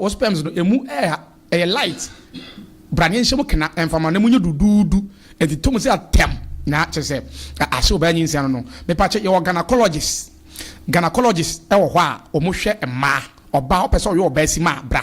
Wo sperms no emu ɛha ɛyɛ light bra ne nhyɛ mu kena mfama na emu nyɛ duduudu nti to mu sɛ atɛm na kyerɛ sɛ ahyɛ ɔbaa nyinsɛn no no mepa kyɛ yɛwɔ gynacologist gynacologist ɛwɔ hɔ a ɔmo hwɛ mmaa ɔbaa wopɛ sɛ ɔyɛ ɔbaa sima a bra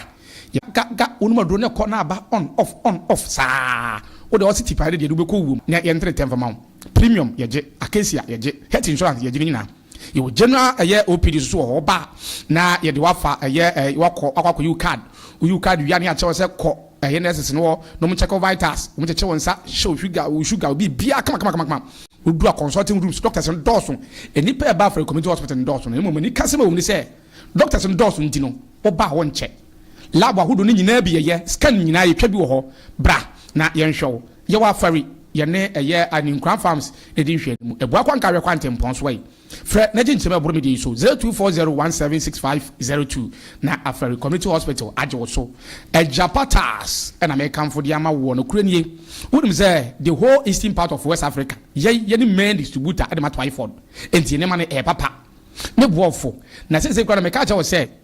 yɛ ga ga wonom aduro no ɛkɔ na aba on off on off saa wode ɔse ti paa ne deɛ de wobɛkɔ wuo mu na yɛntere tɛ mfama wo premium yɛgye acacia yɛgye health insurance yɛgye ne nyinaa. Yɛwɔ general a ɛyɛ OPD nso wɔ hɔ. Woba a na yɛde wo afa ɛyɛ ɛɛ wakɔ wakɔ akɔyi wo card. Woyi wo card wie a na yɛakyerɛ wo sɛ kɔ ɛyɛ nurses no hɔ na wɔn check wo vitals, wɔn kyekye wo nsa, hyɛ wo sugar, wo sugar, wo biribiara kama kama kama kama. Wodu a consulting rooms, doctors no dɔɔso. Nnipa a ɛba afrɛ community hospital no dɔɔso na mmom anikasɛm a ɛwɔ mu ne sɛ doctors no dɔɔso nti no woba a wɔnkyɛ. Lab ahodoɔ no nyinaa bi yɛyɛ, scan nyinaa yɛtwa bi wɔ hɔ. Bra na yɛnhwɛ wo. Yɛwɔ afari yɛne ɛyɛ a ne Nkuran Farms ɛdi nhwɛanimu. Ɛboa Kwanka Awɛ Kwantempɔn so yi. Frɛ na gye nkyem ɛboro me deɛ yi so, 0240176502 na Afari Community Hospital agye wo so. Agya Patas na mekamfo de ama woɔ. Nokorɛ nie, wonim sɛ the whole eastern part of West Africa, yɛn yɛne main distributor de ma Twyford. Enti nneɛma no ɛyɛ papa. Me boa wo fo. Na seesei koraa no meka akyerɛ wo sɛ.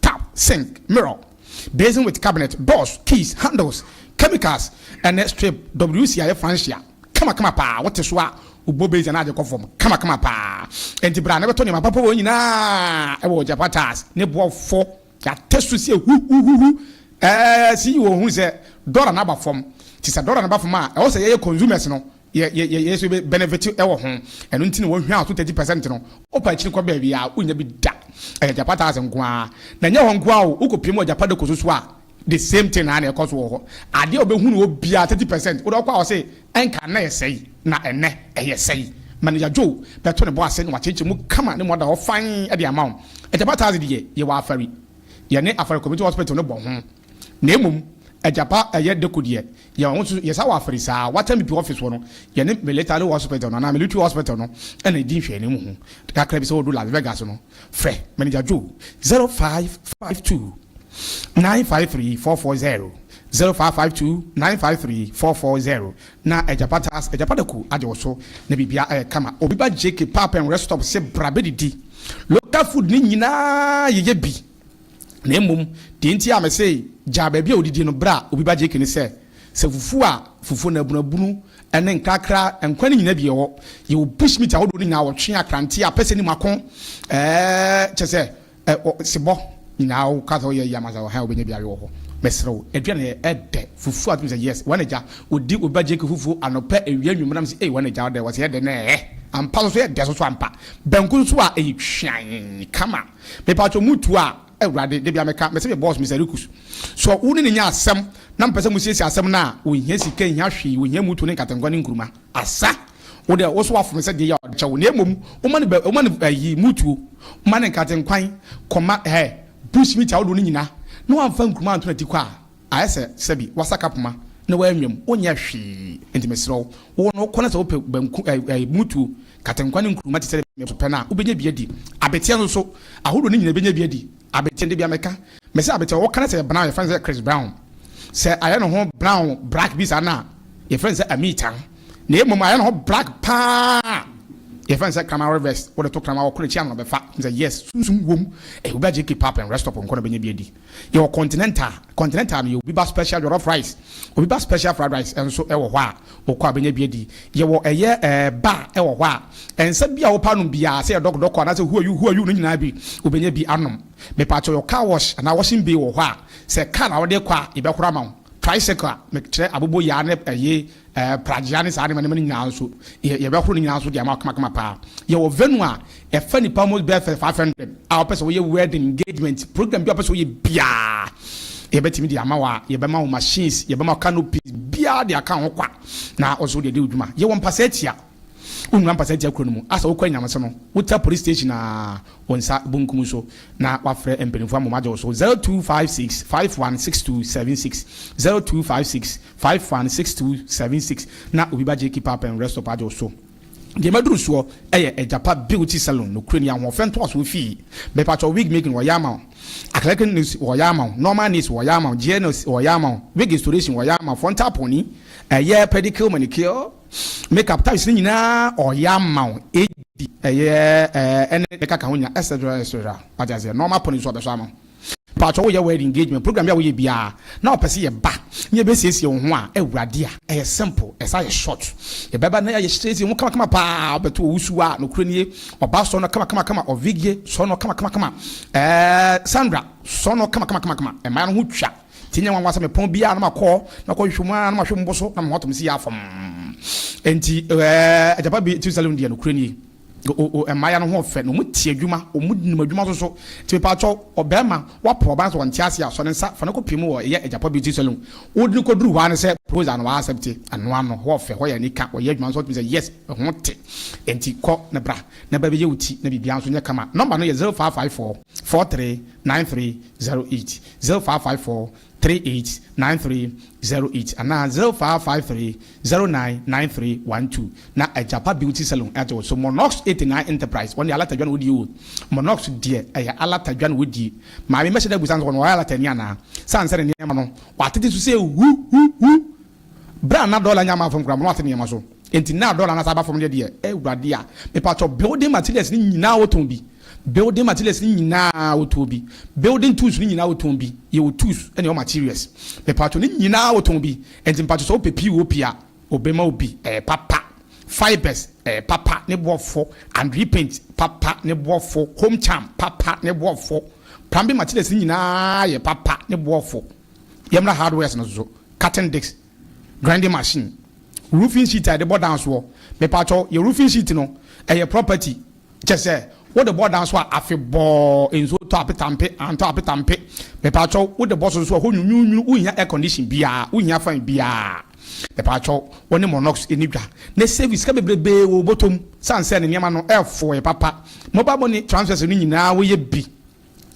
tap, sink, mirror, basin with cabinet, doors, keys, handles, chemicals, ɛne strip WC a yɛfa nhyia kamakama paa. Wote so a, wobɔ basin anaa agye kɔ fam kamakama paa. Enti bra na bɛtɔ nneɛma papa wɔ nyinaa wɔ Ojapata Tires, ne boɔfo. Yɛatɛ so sɛ huhuhuhu. Ɛɛ, CEO hu sɛ dɔla no aba fam. Nti sɛ dɔla no ba fam a, ɛwɔ sɛ yɛyɛ consumers no Yɛ yɛ yɛ yɛsɛ bɛ benefit ɛwɔ ho. Ɛno nti na wɔ hwɛ aso thirty percent no. Wokɔ akyiri kɔ baabi a wonnya bi da. Ɛyɛ Agyapa tax nko ara. Na ɛnyɛ hɔ nko ara o, wokɔ pue mu wɔ Agyapa Dako so so a the same thing ara na ɛkɔ so wɔ hɔ. Adeɛ a wobɛhu no hɔ biara thirty percent. Wode ɔkɔ a wɔse ɛnka na ɛyɛ sɛi na ɛnnɛ ɛyɛ sɛi. Manager Joe bɛto ne bo ase na wakyekyɛ mu kama na mmɔ da hɔ fann de ama wo. Agyapa tax deɛ yɛwɔ afari. Yɛne Afari Community Hospital no bɔ ho. Na mmom Agyapa ɛyɛ Dako deɛ Yɛn ho nso, yɛsa wɔ afere saa. Wata me pi office hɔ no, yɛne Military Hospital no anaa Military Hospital no na edi nhwɛanim ho kakra bi sɛ wɔredu Las Vegas no. Frɛ Manager Joe, zero five five two, nine five three four four zero, zero five five two, nine five three four four zero, na Agya Patas, Agya Padaku, agye wo so na biribiara ayɛ kama. Obi ba JK Pap and Rest Stop se bra bedidi. Local food no nyinaa yɛyɛ bi. Na mmom deɛ nti a mese gyaa baabi a ɔdidi no berɛ a obi ba gyeke ne sɛ, sɛ fufuo a fufuo na abunabunu ne nkrakra nkwan no nyina bi ɛwɔ, yɛwɔ bushmeat ahodoɔ no nyinaa, ɔtwe, akrante, apɛsɛ ne mako, ɛɛɛ kyerɛ sɛ sebɔ nyinaa wo ka sɛ woyɛ yam ansa ɔha a wobɛnya bi awe wɔ hɔ. Mesrɛ wo, aduane no yɛ dɛ, fufuo a wotumi sɛ yes, wɔn agya, ɔdi obi ba gyeke fufuo anɔpa, awia, anwummerɛ, na mese ei wɔn agya ɔdɛ, wɔse ɛdɛ no ɛɛ ampa, soso yɛ dɛ soso ampa, banku nso a ɛyɛ twiann kama. Me paatwo mo tu a awurade da bia me ka me se me boss Mister Rikus sɔ wo ne ne nya asɛm na me pɛ sɛ mo siesie asɛm no a onhia sika nhia hwee onhia mutu ne nkatengua ne nkuruma asa wo dɛ wo so wafo me sɛ deɛ yi a ɔde kyɛ wo na emom wo ma no wo ma no ayi mutuo wo ma no nkatenkwan kɔ ma hɛ bush meat a wo do no nyina na wamfa nkuruma anto na ti kɔ a Ayɛ sɛ sɛbi wasaka poma na w'anwam, wonyɛ hwee, enti mesrɛ wo, wo no kɔ na sɛ wopɛ banku ɛɛ ɛɛ mutuo, katenkwa ne nkruma te sɛ dɛ mɛpo pɛ no a, wobɛnya bi adi. Abeteɛ nso so, ahodoɔ no nyinaa bɛnya bi adi. Abeteɛ, Debia mɛka. Mesɛ abeteɛ, ɔwɔ ka no sɛ yɛ brown, yɛfrɛ no sɛ Chris Brown. Sɛ ayɛ ne ho brown, black bi saa no a, yɛfrɛ no sɛ Amita. Na mmom ayɛ ne ho black paa a, yɛfrɛ no sɛ Kraman Revest. Wode to Kraman a, ɔko na akyi ano na ɔbɛfa. Mesɛ yes, sunsum wom. Ɛɛ wobɛagye K-pop and restop nko na wobɛnya bi adi. Yɛwɔ continental, continental no yɛ obi ba special jollof rice, obi ba special fried rice nso ɛwɔ hɔ a wokɔ a bɛnya bi adi. Yɛwɔ ɛyɛ ɛɛ bar ɛwɔ hɔ a nsa biaa wopɛ anom biaa sɛ yɛ dɔk dɔk anaasɛ who are you who are you no nyinaa bi wobɛnya bi anom. Mepaakyɛw yɛwɔ car wash anaa washing bay wɔ hɔ a sɛ car na wode kɔ a yɛbɛhoro ama wo, tricycle a mekyerɛ aboboyaa ne ɛyee Ɛɛ, pragyea ne saa nneɛma nneɛma no nyinaa nso, yɛ, yɛbɛhoro ne nyinaa nso de ama kamakama paa. Yɛwɔ venue a ɛfa nnipa mu bɛyɛ fɛ five hundred a wɔpɛ sɛ wɔyɛ wedding, engagement, program biara a wɔpɛ sɛ wɔyɛ biara, yɛbɛtumi de ama wo a, yɛbɛma wo machines, yɛbɛma wo canopies, biara de aka wo ho kwa, na wo nso wode adi wo dwuma. Yɛwɔ mpasaatia. Wonwura mpasa ntia kuro no mu. Asa wokɔ anyame so no wotra police station aa wo nsa bonkum so na wafrɛ mpaninfoɔ ama wɔn agye wo so 0256 51 6276 0256 51 6276 na obi ba Jackie Pap and Restop agye wo so. Deɛ maduru soɔ yɛ Agyapa Beauty Salon nokorɛ ni ahoɔfɛ ntoasoɔ fii mepatwɔ wig making wɔyɛ ama wo acrylic nails wɔyɛ ama wo normal nails wɔyɛ ama wo gel nails wɔyɛ ama wo wig restoration wɔyɛ ama wo frontal pony ɛyɛ pedicure manicure Make up times ne nyinaa ɔyɛ ama wo edi ɛyɛ ɛɛ ɛne ne kaka ho nya etc etc wate aseɛ na ɔma pɔn nso ɔbɛsɔ ano paatwa woyɛ wed engagement program bi a woyɛ biara na ɔpɛ sɛ yɛba na yɛbɛsiesie wo ho a awurade a ɛyɛ simple ɛsa ayɛ short yɛbɛba na yɛayɛ siesie ho kamakama paa ɔbɛto ɔwusu a nokorɛ nie ɔba sɔ no kamakamakama ɔvigie sɔ no kamakamakama ɛɛ Sandra sɔ no kamakamakama ɛmaa no ho twa Ntsi nnyɛ nwanwa sɛ mepon bi a na makɔ na makɔhwehwɛ mu ara na mahwɛ mu bo so na mahu atomsi yi ara fam. Ntsi agyapa bi tse Salem deɛ, nokorɛ nie. O-o-o, mmayewa no ho yɛ fɛ na wɔn te adwuma, wɔn nim adwuma nso so. Ntsi mepaakyɛw, ɔbarima, woapo ɔbaa no sɛ ɔnte aseɛ a, sɔ ne nsa fa no kɔpue mu wɔ yɛ agyapa bi tse Salem. Wode no kɔduru hɔ ara ne sɛ proposal no wa accepte, ɛno ara no, hɔ yɛ fɛ, hɔ yɛ anika, wɔyɛ adwuma nso a wotumi sɛ yes, ɛho te. Ntsi kɔ na bra na bɛbɛyɛ wo ti na biribiara nso nyɛ kama. Nɔmba no yɛ zero five five four, four three, nine three zero eight zero five five four three eight nine three zero eight anaa zero five five three zero nine nine three one two na Agyapa Beauty Salon ɛte wo so Monox eighty nine Enterprise wɔn deɛ alata dwa na wɔdie o Monox deɛ ɛyɛ alata dwa na wɔdie maame mɛhyɛ da abusa nso wɔn wɔyɛ alata ni anaa sane sɛ ne nneɛma no wɔatete so sɛ hu hu hu Berɛ a na dɔla nnya mmaa fam koraa mpo na wate nneɛma so nti, na dɔla no asan aba fam deɛ deɛ, eh Awurade a, mepakyɛw, building materials no nyinaa wɔtɔn bi, building materials no nyinaa wɔtɔn bi, building tools no nyinaa wɔtɔn bi, yɛwɔ tools ne yɛwɔ materials, mepakyɛw, ne nyinaa wɔtɔn bi, nti mepakyɛw sɛ wopɛ POP a, wɔbɛma wo bi, ɛyɛ papa, fibers, ɛyɛ papa ne boɔfo, Andre paint, papa ne boɔfo, home charm, papa ne boɔfo, plumbing materials no nyinaa yɛ papa ne boɔfo. Yɛmmra hardwares no so, cutting disc, grinding machine, roofing sheet a yɛde bɔ dan soɔ. Mepaatwɔ, yɛ roofing sheet no, ɛyɛ property, kyɛsɛ, wode bɔ dan so a afe bɔɔ, nsuo tɔ apetampe, antɔ apetampe. Mepaatwɔ, wode bɔ so nso a hɔ nwunwunwunu, wonhia air condition biaa, wonhia fan biaa. Mepaatwɔ, wone Monox ɛni dwa. Na save sika bebrebee wɔ wo bɔtɔ mu, sane sɛ ne nneɛma no ɛɛfɔɔ yɛ papa. Mobile money transfers no nyinaa woyɛ bi.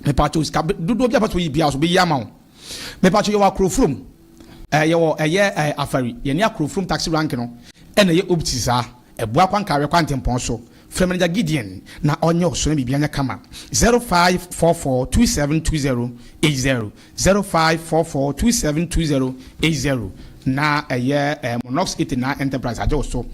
Mepakyɛw sika dodoɔ bi a wobɛtumi ayi biara nso mɛyi ama wo. Mepakyɛw yɛwɔ Akrofurom, ɛɛ yɛwɔ ɛyɛ ɛɛ Afari, yɛne Akrofurom taxi rank no ɛna ɛyɛ opposite saa, ɛboa kɔ Ankareɛ kwantempɔn so. Frɛ Manager Gideon na ɔnyɛ wo so na biribiara nyɛ kama. 0544 272080 Zero five four four two seven two zero eight zero na ɛyɛ ɛɛ Monox Ete na Enterprise agye wo so.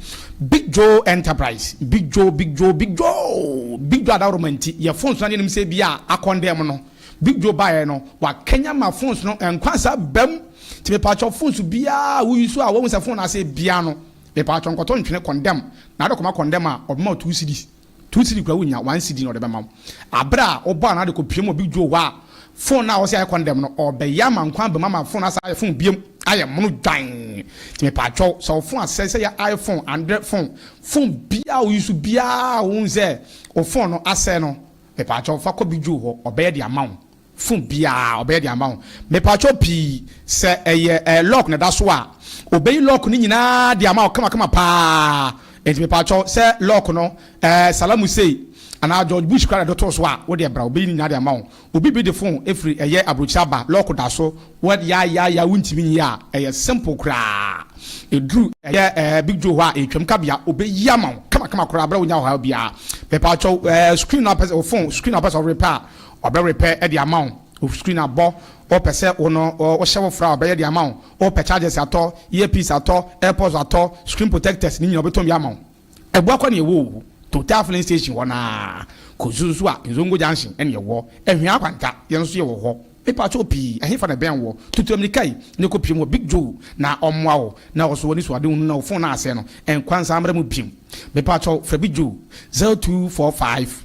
Big Joe Enterprise, Big Joe, Big Joe, Big Joe, Big Joe adaworoma nti yɛ phones no anim sɛ bi a akɔn dɛɛ mo no Big Joe baeɛ no wakanyan ma phones no nkwa nsa ba mu nti mepaatwɔ phones biara a wo use a wahu sɛ phone no asɛe biara no mepaatwɔ nkɔtɔ ntwene kɔndɛm na ade kɔma kɔndɛm a ɔbɛma wo two cedis Two cedi koraa wunnya one cedi na ɔde bɛma wo. Aber a ɔbɔɔ ano ara de kɔpue mu wɔ Big Joe hɔ a, phone no a ɔse ayɛ condemn no, ɔrebɛyɛ ama nkwa abam ama phone no asan ayɛ phone biom, ayɛ mono dwann. Ntsi mepaakyɛw, sɛ wo phone asɛe, sɛ eyɛ iPhone, Android phone, phone biara a wo use biara a wohu sɛ wo phone no asɛe no, mepaakyɛw fa kɔ Big Joe hɔ, ɔbɛyɛ de ama wo. phone biaa ɔbɛyɛ de ama wo mepakyɛw pii sɛ ɛyɛ ɛɛ lock na ɛda so a ɔbɛyi lock no nyinaa de ama wo kama kama paa ɛnti mepakyɛw sɛ lock no ɛɛ salamu sei anaa George Bush koraa na ɛde too so a wo deɛ bra ɔbɛyi no nyinaa de ama wo obi bi de phone ɛfiri ɛyɛ abrokyire aba lock da so wɔ yaayaaya wo ntimi nyi a ɛyɛ simple koraa ɛduru ɛyɛ ɛɛ Big Joe hɔ a ɛtwam kabea ɔbɛyi ama wo kama kama koraa berɛ a wo nya ɔhaw biaa mepakyɛw ɛɛ screen no apɛ sɛ wo phone screen no apɛ sɛ ɔrepɛ a Ɔbɛ repɛ de ama wo wo screen abɔ wopɛ sɛ wo no wo hyɛ wo fra a ɔbɛyɛ de ama wo wopɛ chargers atɔ ear piece atɔ airpods atɔ screen protectors ne nyina ɔbɛtɔn bi ama wo ɛboa kɔ ne ɛwɔ owu total filling station hɔ naa kɔ zuzu a nzongo junction ɛne ɛwɔ ɛhwɛ akwanta yɛn nso yɛ wɔ hɔ mepa kyɛw pii ɛhefa na ɛbɛn wɔ tutu amirika yi ne kɔ piem wɔ big joe na ɔmoa wo na ɔso wɔ ne suade hunu na wo phone no asɛe no ɛnkwa nsa mmra mu biem mepa kyɛw fra big joe 0245.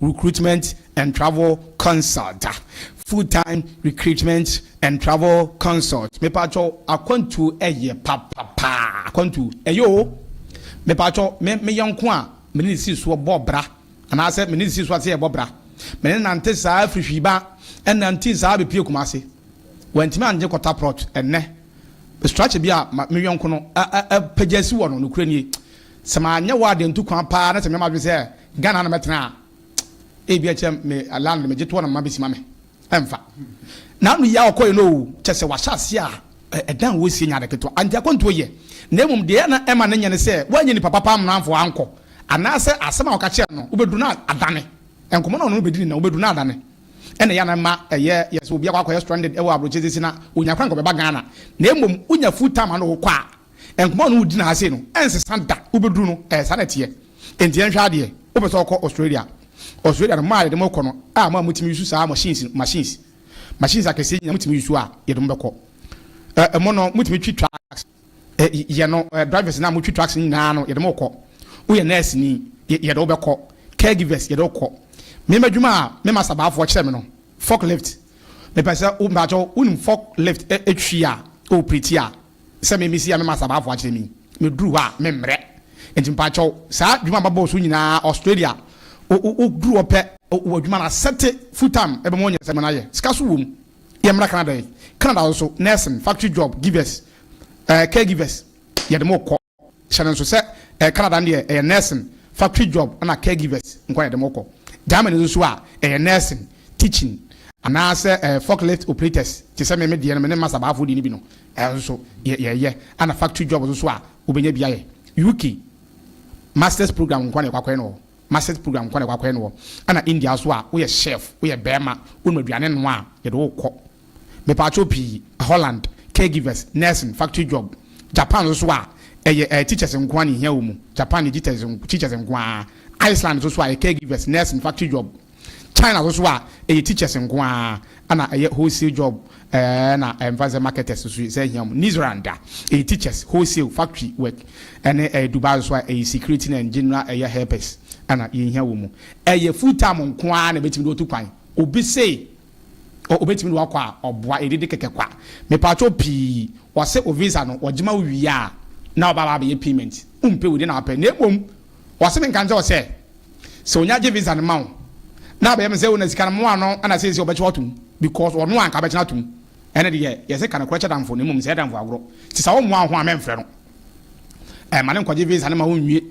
Recruitment and Travel Consult da. Full Time Recruitment and Travel Consult mepatwɔ akwantuo ɛyɛ papapaa akwantuo ɛyɛ oo mepatwɔ me me yɔnko a me ne ne sii soɔ bɔɔ bra anaasɛ me ne ne sii soɔ ase yɛbɔ bra me ne nante saa firi hwiiba ɛnantii saa bɛpie Kumase wantumi angye kɔta prɔt ɛnnɛ me strakye bi a ma me yɔnko no a a a pagya si wɔ no nokorɛ nie Sɛ manyɛ hɔ ade nto kwan paa na sɛ meyɛ m'adwene sɛ Ghana ha na mɛtena a, ebia ɛkyerɛ me landlord megye toɔ na mema bɛsi ma me. Ɛmfa. N'ano yi a ɔkɔeɛ no oo, kyerɛ sɛ wahyɛ aseɛ a ɛdan a wɔresie nyɛ ade ketewa. Enti akwantuo yɛ, na mmom deɛ na ɛma no nyɛ ne sɛ wanyɛ nnipa papa ammena amfa wankɔ, anaasɛ asɛm a wɔka kyerɛɛ no wobɛduru no adane. Nkɔmmɔ no a ɔne no bɛdi ne na wobɛduru no adane na ɛyɛ a na ɛma ɛyɛ yɛ sɛ obi akɔ akɔyɛ stranded wɔ aburokyire sɛsi na ɔnya kwan kɔbɛba Ghana. Na mmom wonya full time a na wokɔ a, Nkɔmmɔ a ɔne wo di no ara sei no, ɛnsesa da. Wobɛduru no, ɛɛ saa na ɛteɛ. Enti yɛnhwɛ adeɛ, wopɛ sɛ wokɔ Australia. Australia no, mo a yɛde mo rekɔ no, a mo a motumi use saa machines no, machines, machines akɛseɛ nyinaa motumi use a, yɛde mo bɛkɔ. Ɛ, ɛmo no, motumi twi trucks. Ɛ, yɛ no, ɛ, drivers no a motwi trucks no nyinaa no, yɛde mo rekɔ. Woyɛ nurse ni, yɛ, yɛde wo bɛkɔ. Caregivers, yɛde wo kɔ. Me m'adwuma a me master baafoɔ kyerɛ me no, forklift. Mepɛ sɛ wo, mpakyɛw, wonim forklift, ɛ, ɛtwi a, ɔɔpreti a. sɛ me mesia no ma Sabaafo akyerɛ me yi, me duru hɔ a me mmerɛ. Nti mpakyɛw saa dwuma a mabɔɔ so nyinaa Australia wo duru hɔ pɛ wɔ adwuma no asɛte full time ɛbɛma wanya sɛ mena yɛ sika so wom. Yɛ mmra Canada yi, Canada nso nursing, factory job givers, eh, caregivers yɛde mo kɔ. Hyɛ no nso sɛ ɛyɛ Canada no deɛ ɛyɛ nursing, factory job ɛna caregivers nko a yɛde mo kɔ. Germany no nso a ɛyɛ nursing, teaching anaasɛ ɛɛ forklift operators te sɛ me me deɛ no me ne Master Bahafoɔ deɛ no bi no ɛno nso yɛ yɛyɛ ɛna factory job nso a wobɛnya bi ayɛ. UK Masters program nko a na yɛkɔ akɔyɛ no wɔ hɔ, Masters program nko a na yɛkɔ akɔyɛ no wɔ hɔ ɛna India nso a woyɛ chef, woyɛ barima, wonim aduane noa a yɛde wo kɔ. Mepaatwo pii, Holland, caregivers, nursing, factory job, Japan nso so a ɛyɛ eh teachers nkoaa na ehia wɔ mu, Japan yɛ teachers teachers nkoaa, Iceland nso so a ɛyɛ caregivers, nursing, factory job, China nso so a ɛyɛ teachers nkoaa na ɛyɛ wholesale job eh na ɛmfa nsɛ marketers nso sɛ ehia wɔn, New Zealand a ɛyɛ teachers, wholesale, factory work ɛne eh Dubai nso so a ɛyɛ security na general ɛyɛ helpers na yɛn hia wɔ mu. Ɛyɛ full time nkoaa na ebetumi de watu kwan. Obi se Oh obetumi de wakɔ a ɔboa yɛ dede kɛkɛ kwa mepakyɛw pii wɔse wo visa no wɔgyema wo wie a na ɔba aba abɛyɛ payment wompɛ wei de na wapɛ na mmom wɔse menka nkyɛw sɛ sɛ onya gye visa no ma wo na abɛyɛ me sɛ wo na sika no moa no na seesei ɔbɛkyɛ watom because ɔno anka bɛkyɛ no atom ɛne deɛ yɛse ka nokorɛ kyɛ damfo na mmom sɛ yɛ damfo agorɔ nti sɛ wommoa wo ho a mɛmfrɛ no ɛma no nkɔgye visa no ma wonwie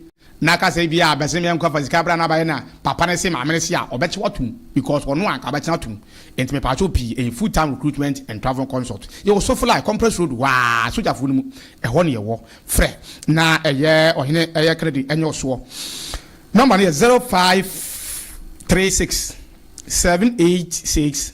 Na kasa bia bɛse me nkɔ fa sika bra na bayɛ na papa no se maame no se a ɔbɛkye watom because ɔno anka ɔbɛkye atom nti mepaakyɛw pii ɛyɛ full time recruitment and travel consult yɛwɔ sofolae compress road hɔ aa sogyafoɔ no mu ɛhɔ ne yɛwɔ frɛ na ɛyɛ ɔhene ɛyɛ credit ɛnyɛ ɔsoɔ number no yɛ zero five three six seven eight six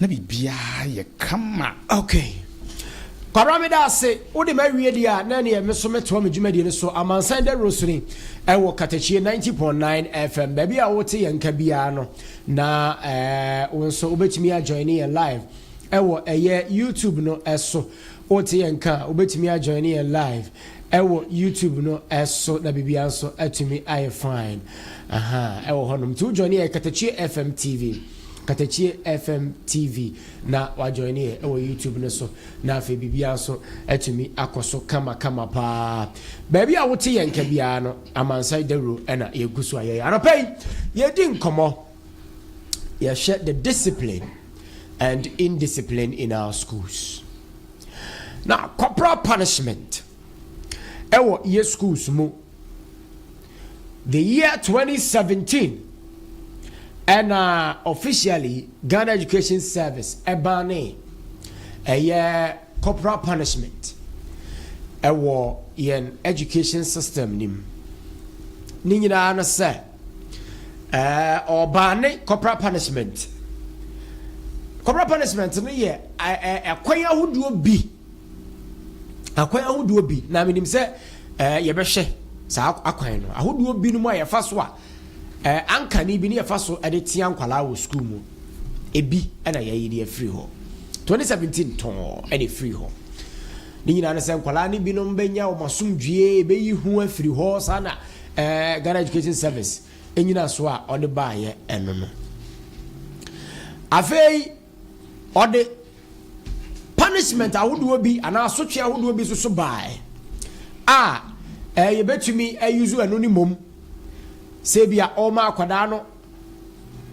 na biribiara yɛ kama. Okay. Kwabra meda ase, wode m'awie deɛ a, na ɛneɛ me so mɛtoa me dwumadie no so. Amansan Dawuro so ni, ɛwɔ Katakyie 90.9 FM. Baabi a wote yɛn nka biara no, na eh, wo nso wobɛtumi ajoine yɛn live ɛwɔ ɛyɛ YouTube no ɛso. Wote yɛn nka a, wobɛtumi ajoine yɛn live ɛwɔ YouTube no ɛso, na biribiara nso atumi ayɛ fine. Aha, ɛwɔ hɔnom. Nti wojoine yɛ Katakyie FM TV. Katakyie FM TV na wa join yɛ ɛwɔ YouTube no so na afei biribiara nso atumi akɔ so kama kama paa. Baabi a wote yɛn ka biara no Amansan Dawuro ɛna yɛgu so a yɛyɛ. Anɔpa yi yɛdi nkɔmɔ yɛhwɛ the discipline and indiscipline in our schools. Na corporal punishment ɛwɔ yɛ schools mu. The year 2017 ɛna officially Ghana Education Service ɛbaa ne ɛyɛ corporal punishment ɛwɔ yɛn education system nim ne nyinaa no sɛ ɛɛ ɔbaa ne corporal punishment corporal punishment no yɛ ɛkwan ahodoɔ bi. Akwan ahodoɔ bi, na menim sɛ eh, yɛbɛhwɛ saa akwan no, ahodoɔ bi no mu a yɛfa so a eh, ankane bi ne yɛfa so de tea nkwalaa wɔ sukuu mu. Ebi na yɛyi de afiri hɔ. 2017 tɔɔ ɛna ɛfiri hɔ. Ne nyinaa no sɛ nkwalaa no binom bɛnya wɔn asomdwie, ɛbɛyi ho afiri hɔ, saa na eh, Ghana Education Service ɛnyina so a ɔde baayɛ ɛno no. Afei, Ɔde punishment ahodoɔ bi anaa asotwe ahodoɔ bi nso so baeɛ a ɛɛ yɛbɛtumi ayuzu ɛno ne mmom sɛ ebi a ɔma akwadaa no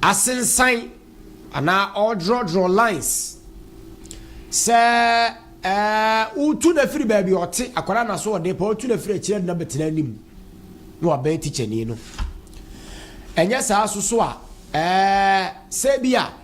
asensan anaa ɔredrɔdrɔ lines sɛ ɛɛ wotu no afiri baabi ɔte akwadaa na so ɔde pɛ wotu no afiri akyire na bɛtena anim na wabɛn tikyani no ɛnyɛ saa so so a ɛɛ sɛ ebi a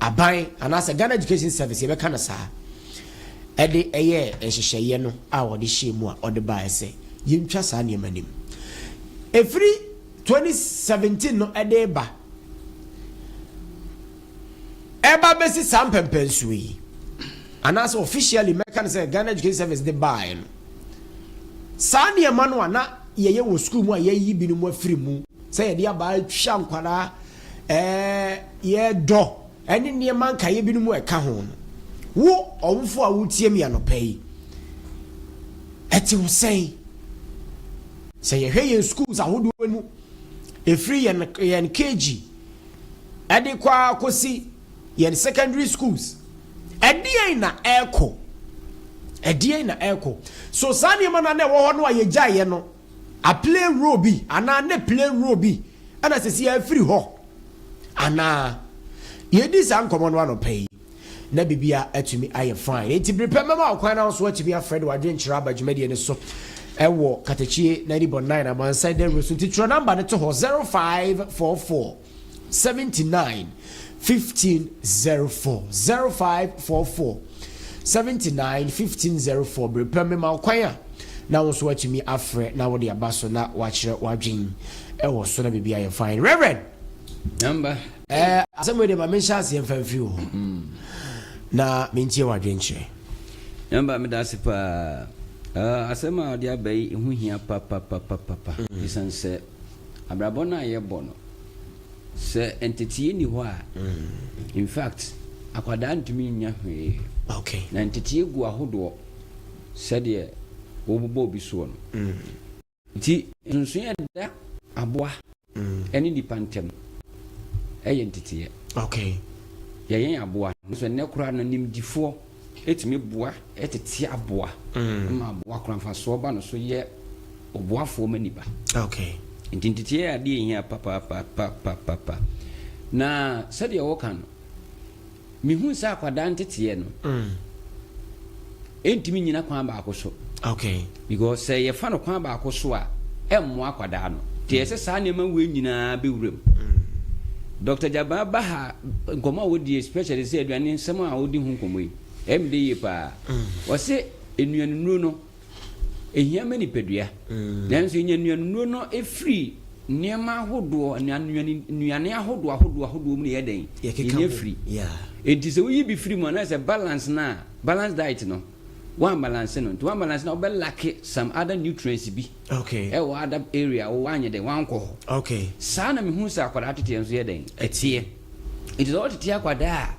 Aban anaasɛ Ghana Education Service, yɛbɛka no saa, ɛde ɛyɛɛ nhyehyɛeɛ no a wɔde hyɛɛ mu a ɔde baeɛ sɛ yɛntwa saa nneɛma no mu. Ɛfiri 2017 no ɛde ba ɛba bɛsi saa mpɛmpɛnsoɔ yi anaasɛ officially mɛka no sɛ Ghana Education Service de baeɛ no saa nneɛma no a na yɛyɛ wɔ sukuu mu a yɛyi binom afiri mu sɛ yɛde aba atwa nkwadaa Ɛɛ, yɛn dɔ ne nneɛma nkaeɛ binom a ɛka ho no, wo ɔwofo a woretie me anɔpa yi, ɛte wo sɛn? Sɛ yɛhwɛ yɛn schools ahodoɔ mu, ɛfiri yɛn yɛn KG ɛde kɔ ara kɔsi yɛn secondary schools, ɛdeɛn na ɛrekɔ? Ɛdeɛn na ɛrekɔ? So saa nneɛma no a na ɛwɔ hɔ no a yɛgyaeɛ no, A play role bi anaa ne play role bi na ɛsɛ sɛ yɛfiri hɔ anaa? Yɛdii saa nkɔmmɔ no anɔpa yi, na biribiara atumi ayɛ fine. Enti bere pɛ mɛma wo kwan na wo nso woatumi afrɛ de w'adwenkyerɛ aba dwumadie no so wɔ Katakye 90.9 Amansan Dawuro so. Nti twerɛ namba no to hɔ, 0544. 79 15 04 05 44 79 15 04 bere pɛ mema wo kwan a na wo nso watumi afrɛ na wode aba so na wakyerɛ w'adwene ɛwɔ so na biribi ayɛ fine reverend namba ɛɛ asɛm wei de ma menhyɛ aseɛ mfa mfiri wo hɔ mm. na mentie w'adwene kyerɛ namba meda ase paa ah, asɛm a ɔde aba yi ɛho hia papapapapa ɛsiane mm. sɛ abrabɔ no a yɛbɔ no sɛ ntetee nni hɔ a infact akwadaa ntumi nnya hwee na ntetee gu ahodoɔ sɛdeɛ wobobɔ obi soɔ no nti nsonsonoɛ a ɛda aboa ɛne nnipa ntam ɛyɛ nteteeɛ yɛyɛn aboa no so ɛnɛ koraa no nimdifoɔ Ɛtumi boa tete aboa ma aboa koro mfasoɔ ba no so yɛ ɔboafoɔ ma nnipa. Nti nteteɛ yɛ adeɛ ɛhia papapapapapa. Na sɛdeɛ woka no, mehu sɛ akwadaa nteteɛ no ɛntumi nyina kwan baako so. Because sɛ yɛfa no kwan baako so a, ɛmmoa akwadaa no. Nti ɛyɛ sɛ saa nneɛma wei nyinaa bɛwura mu. Doctor Gyabaa ba ha, nkɔmmɔ a ɔdi especially sɛ aduane nsɛm a ɔdi ho nkɔmmɔ yi, ɛyɛ me dɛ yie pa ara. Ɔse nnuanennuro no, ɛhia ma nipadua. Nanso yɛnya nnuanennuro no firi nneɛma ahodoɔ, nnuane ahodoɔ ahodoɔ ahodoɔ mu na yɛyɛ dɛn? Yɛnya firi. Nti sɛ woyi bi firi mu anaasɛ balance no a, balance diet no, Woambalanse no ntsi woambalanse no a ɔbɛ lacke some other nutrients bi wɔ other area a ɔannyɛ dɛn ɔannkɔ hɔ. Saa na mehun sɛ akwadaa tsetseɛ nso yɛ dɛn ɛtseɛ. Ntsi sɛ wɔtsetse akwadaa a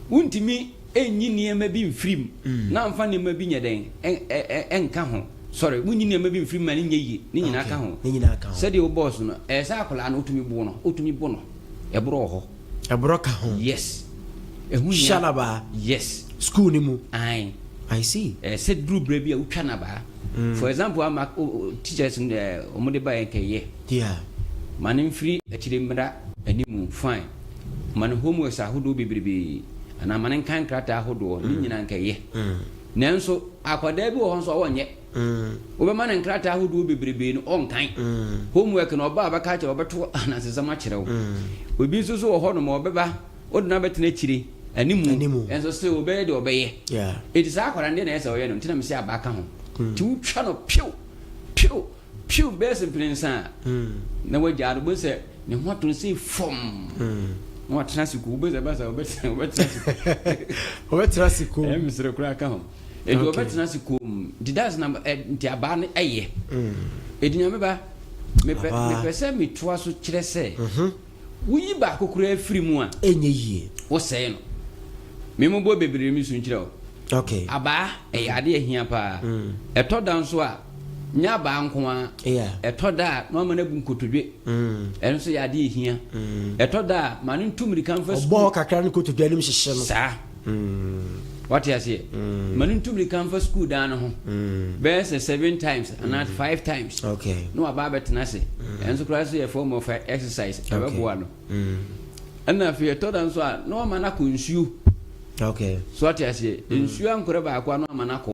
wonntumi nnyi nneɛma bi mmfiri mu na mmfa nneɛma bi nyɛ dɛn nnka ho sorry wonnyi nneɛma bi mmfiri mu ma no nnyɛ yie ne nyinaa ka ho sɛdeɛ wobɔɔ so no ɛyɛ sɛ akwadaa no wotumi bo no wotumi bo no ɛboro wɔ hɔ. Ɛborɔ ka ho. Yes. Ɛho hia. Hyɛ n'abaa. Yes. School no mu. Ae. I see. Ɛɛ sɛ duru berɛ bi a wotwa n'abaa. Mm. For example ama o, o, teachers ɛɛ wɔn de ba yɛn kɛ yɛ. Yeah. Ma no mfiri akyire mmra animu fine. Ma no homeworks ahodoɔ bebrebe anaa ma no nkan nkrataa ahodoɔ ne nyinaa nkɛ yɛ. Mm. Nanso akwadaa bi wɔ hɔ nso a wɔnyɛ. Wobɛma no nkrataa ahodoɔ bebrebee no, ɔnkan. Homework no, ɔba a ɔbɛka akyerɛ wo, ɔbɛto anansesɛm akyerɛ wo. Obi nso so wɔ hɔnom a, ɔbɛba, wode no abɛtena akyire, animu, nso still ɔbɛyɛ deɛ ɔbɛyɛ. Enti saa akwadaa no, deɛ na ɛyɛ sɛ ɔyɛ no, nti na mese aba ka ho. Nti wotwa no pew, pew, pew bɛyɛ sɛ mprɛnsa a, na wagyaa no, wobɛhu sɛ ne ho ato no sei fɔmm, na watena ase komm, wobɛhu sɛ ɛba saa a, ɔbɛtena ase komm. Ɔbɛtena ase komm. Ɛyɛ mesere koraa ka ho. Enti okay. wɔbɛtena ase koom. Nti that's na eh, nti abaa no ɛyɛ. Mm. Enti nyame ba mepɛ mepɛ sɛ metoa so kyerɛ sɛ. Mhm. Woyi baako koraa firi mu a. Ɛnyɛ yie. Wosɛe no. Memobɔ bebree mi so nkyerɛ o. Okay. Abaa ɛyɛ mm. ade ahia paa. Mm. Ɛtɔ da nso a nyɛ abaa nko ara. Ɛtɔ da a na wama no abu nkotodwe. Ɛno nso yɛ ade ahia. Ɛtɔ da a ma no ntu mmirika mfa sukuu. Ɔbɔ kakra no nkotodwe anim hyehyɛ no. Saa. Wate aseɛ? Ma no ntu mmirika mfa sukuu dan no ho bɛyɛ sɛ seven times anaa five times na waba abɛtena ase. Ɛno nso koraa sɛ yɛ form of exercise, ɛbɛboa no. Ɛnna afei ɛtɔ da nso a, na wama no akɔ nsuo. So wate aseɛ? Nsuo ankorɛ baako a na wama no akɔ.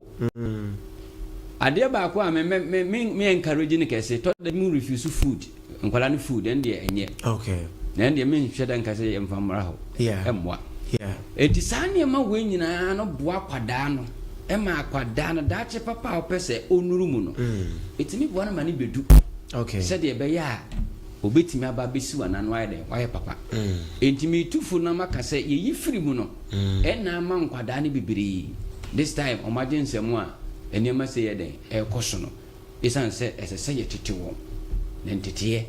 Adeɛ baako a me me me me encourage no kɛse, tɔ da bi mu refuse food. Nkwadaa no food ɛn deɛ ɛnyɛ. Okay. Na ɛn deɛ me nhwɛ dɛ nka sɛ yɛ nfa mmra hɔ. Yeah. Ɛmmoa. Yeah. Eti saa nneɛma wei nyinaa no boa akwadaa no ɛma akwadaa no daakye papa a ɔpɛ sɛ ɔnuru mu no. Mm. Etumi boa no ma ne bedu. Okay. Sɛdeɛ ɛbɛyɛ a obetumi aba abɛsi wɔn ano ayɛ dɛ wayɛ papa. Mm. Enti mi tu fo na ma ka sɛ yɛyi firi mu no. Mm. Ɛna ama nkwadaa no bebree. This time wɔn agye nsɛm a nneɛma sɛ yɛ dɛn ɛrekɔ so no. Esiane sɛ ɛsɛ sɛ yɛtete wɔn, na nteteɛ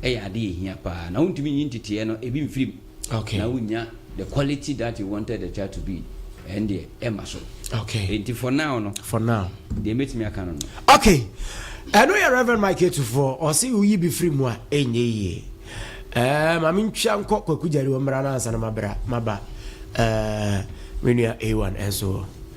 yɛ ade a ehia paa, na wontumi nyi nteteɛ no ebi mfiri mu na wonnya the quality that you wanted the child to be, ɛndeɛ ɛmma so. Enti for now no, deɛ mɛtumi aka no no. Ok, ɛno yɛ Rev. Mike Atufoɔ, ɔse woyi bi firi mu a, ɛnyɛ yie. Ɛɛ, ma mentwa nkɔ Kwaku Gyari hɔ mmra no ansa na mabra, maba ɛɛ, me nua A1 nso hɔ.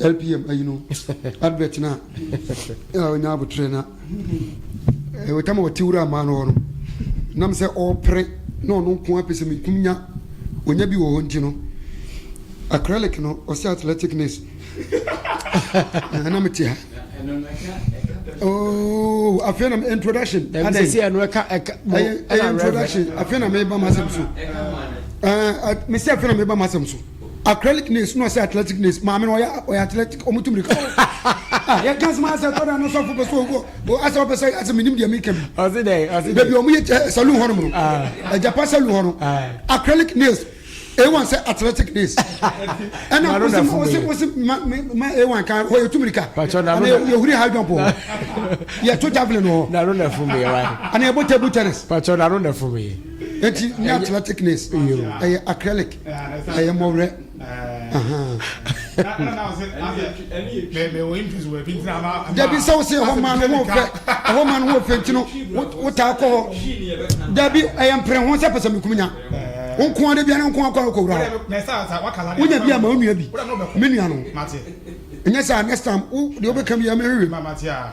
LPM ayi no advert no a ɔnya abotrɛ na ɛtam a ɔte wura maa no hɔ no nam sɛ ɔrepere na ɔno nko apɛ sɛ mekum nya ɔnya bi wɔ hɔ nti no acrylic no ɔsɛ athletic nurse ɛna mete ha Oh, afei na introduction. Ɛna sɛ ɛno ɛka ɛka. Ɛyɛ introduction. Afei na meba m'asɛm so. Ɛɛ mesi afei na meba m'asɛm so. acrylic nails na ɔsɛ athletic nails maame no ɔyɛ ɔyɛ athletic ɔmo tu mirika ah yɛ kan sima asɛ tɔda no sɔfo pɛsɛ owó o asɛ ɔpɛ sɛ asɛ minim deɛ mi kɛm ɔsi dɛ ɔsi dɛ baabi ɔmo yɛ ɛ saloon hɔ nom no ɛjapa saloon hɔ no acrylic nails a1 sɛ athletic nails ɛna ɔsi ma ɔsi ɔsi ma ma a1 kan hɔ yɛ tu mirika ɛna yɛ huri high jump hɔ yɛ to javelin hɔ nanu na fun mi yɛ wa ɛna yɛ bɔ table tennis pàtó nanu na fun mi yɛ eti nyɛ athletic nails ɛyɛ acrylic. Ɛyɛ mmɔwerɛ. Dabi sɛ wosɛ ɛhɔ ma no ho fɛ ɛhɔ ma no ho fɛ nti no wotaa kɔ hɔ dabi ɛyɛ mpere ho sɛ pɛsɛ mekum nya nkoa de biara nkoa kɔ kɔ wura hɔ wonya bi ama wo nua bi me nua no ɛnyɛ sɛ next time wo deɛ wobɛka bi ama hwehwɛ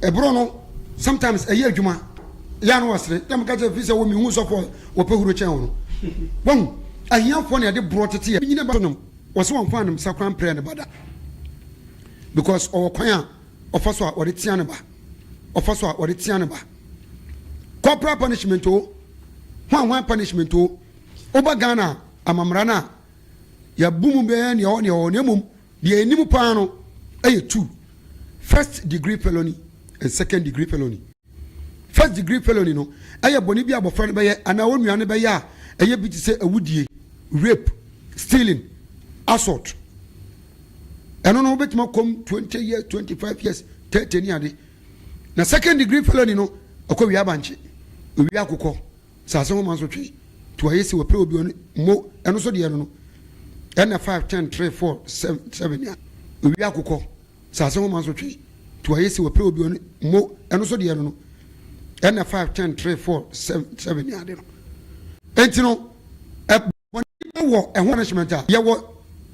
Ɛboro no sometimes ɛyɛ adwuma yɛ ano ɔsere yɛ meka kyerɛ fi sɛ wɔ mehu sɔfoɔ wɔpɛ huro kyɛn wɔ no wahu ahiafoɔ na yɛde borɔ tete yɛ nyina ba nom wɔsɛ wɔmfa anomsa kwan mprɛ ne ba da because ɔwɔ kwan a ɔfa so a ɔde tea ne ba ɔfa so a ɔde tea ne ba corporal punishment o hwan hwan punishment o woba Ghana amamara no a yɛabu mu bɛɛ neɛ ɔwɔ neɛ ɔwɔ na mmom Deɛ ɛnim paa no yɛ two, First degree felony and second degree felony. First degree felony no yɛ bɔne bi a abɔfra no bɛyɛ anaa onua no bɛyɛ a ɛyɛ bi te sɛ awudie, rape, stealing, assault. Ɛno no wobɛtumi akɔm twenty years, twenty five years, thirty ne ade. Na second degree felony no ɛkɔ wie abankye, ɛwie akokɔ. Saase ho mansotwe to ayɛ si wɔ pere obi ɔne mo ɛno nso deɛ no no ɛna five ten three four seven a owia akokɔ saase ho mansotwe to ayɛ si wɔ pere obi ɔne mo ɛno nso deɛ no no ɛna five ten three four seven a de no enti no ɛ. Wɔn wɔ ɛho punishment a yɛwɔ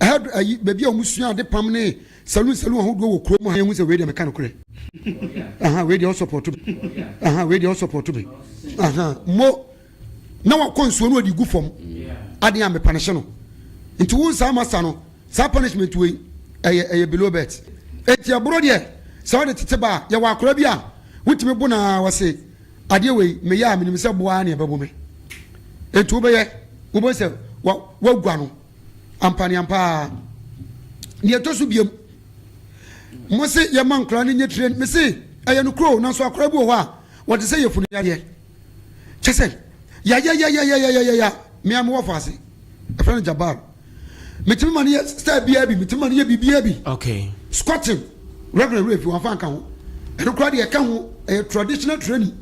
head ayi baabi a wɔn sua ade pam ne saloon saloon ahodoɔ wɔ kurom ha yɛn hu sɛ wei deɛ meka no korɛ aha wei deɛ ɔsɔpɔto bi aha wei deɛ ɔsɔpɔto bi aha mo na wakɔ nsuo no ɔde gu fam adeɛ a mepanehyɛ no nti wo nsa ama sa no saa punishment wei ɛyɛ ɛyɛ below bet eti ɛboro deɛ sɛ ɔde tete ba yɛwɔ akora bi a wotumi bo na wɔse adeɛ wei meyɛ a menim sɛ bo ara na ɛbɛbo me enti wobɛyɛ wobɛhu sɛ woagua no ampaneampa ara deɛ ɛtɔ so biam mo se yɛma nkora no nyɛ tire me se ɛyɛ no kuro nanso akora bi wɔ hɔ a wɔte sɛ yɛfunu yadeɛ kyɛ sɛ yayayayayayaya mea mewɔ fo ase ɛfrɛ no jabar Metumi ma no yɛ style biara bi, metumi ma no yɛ biribiara bi. Okay. Squatting, Reverend Rafi wɔn afa nka ho. Ɛno koraa deɛ ɛka ho, ɛyɛ traditional training.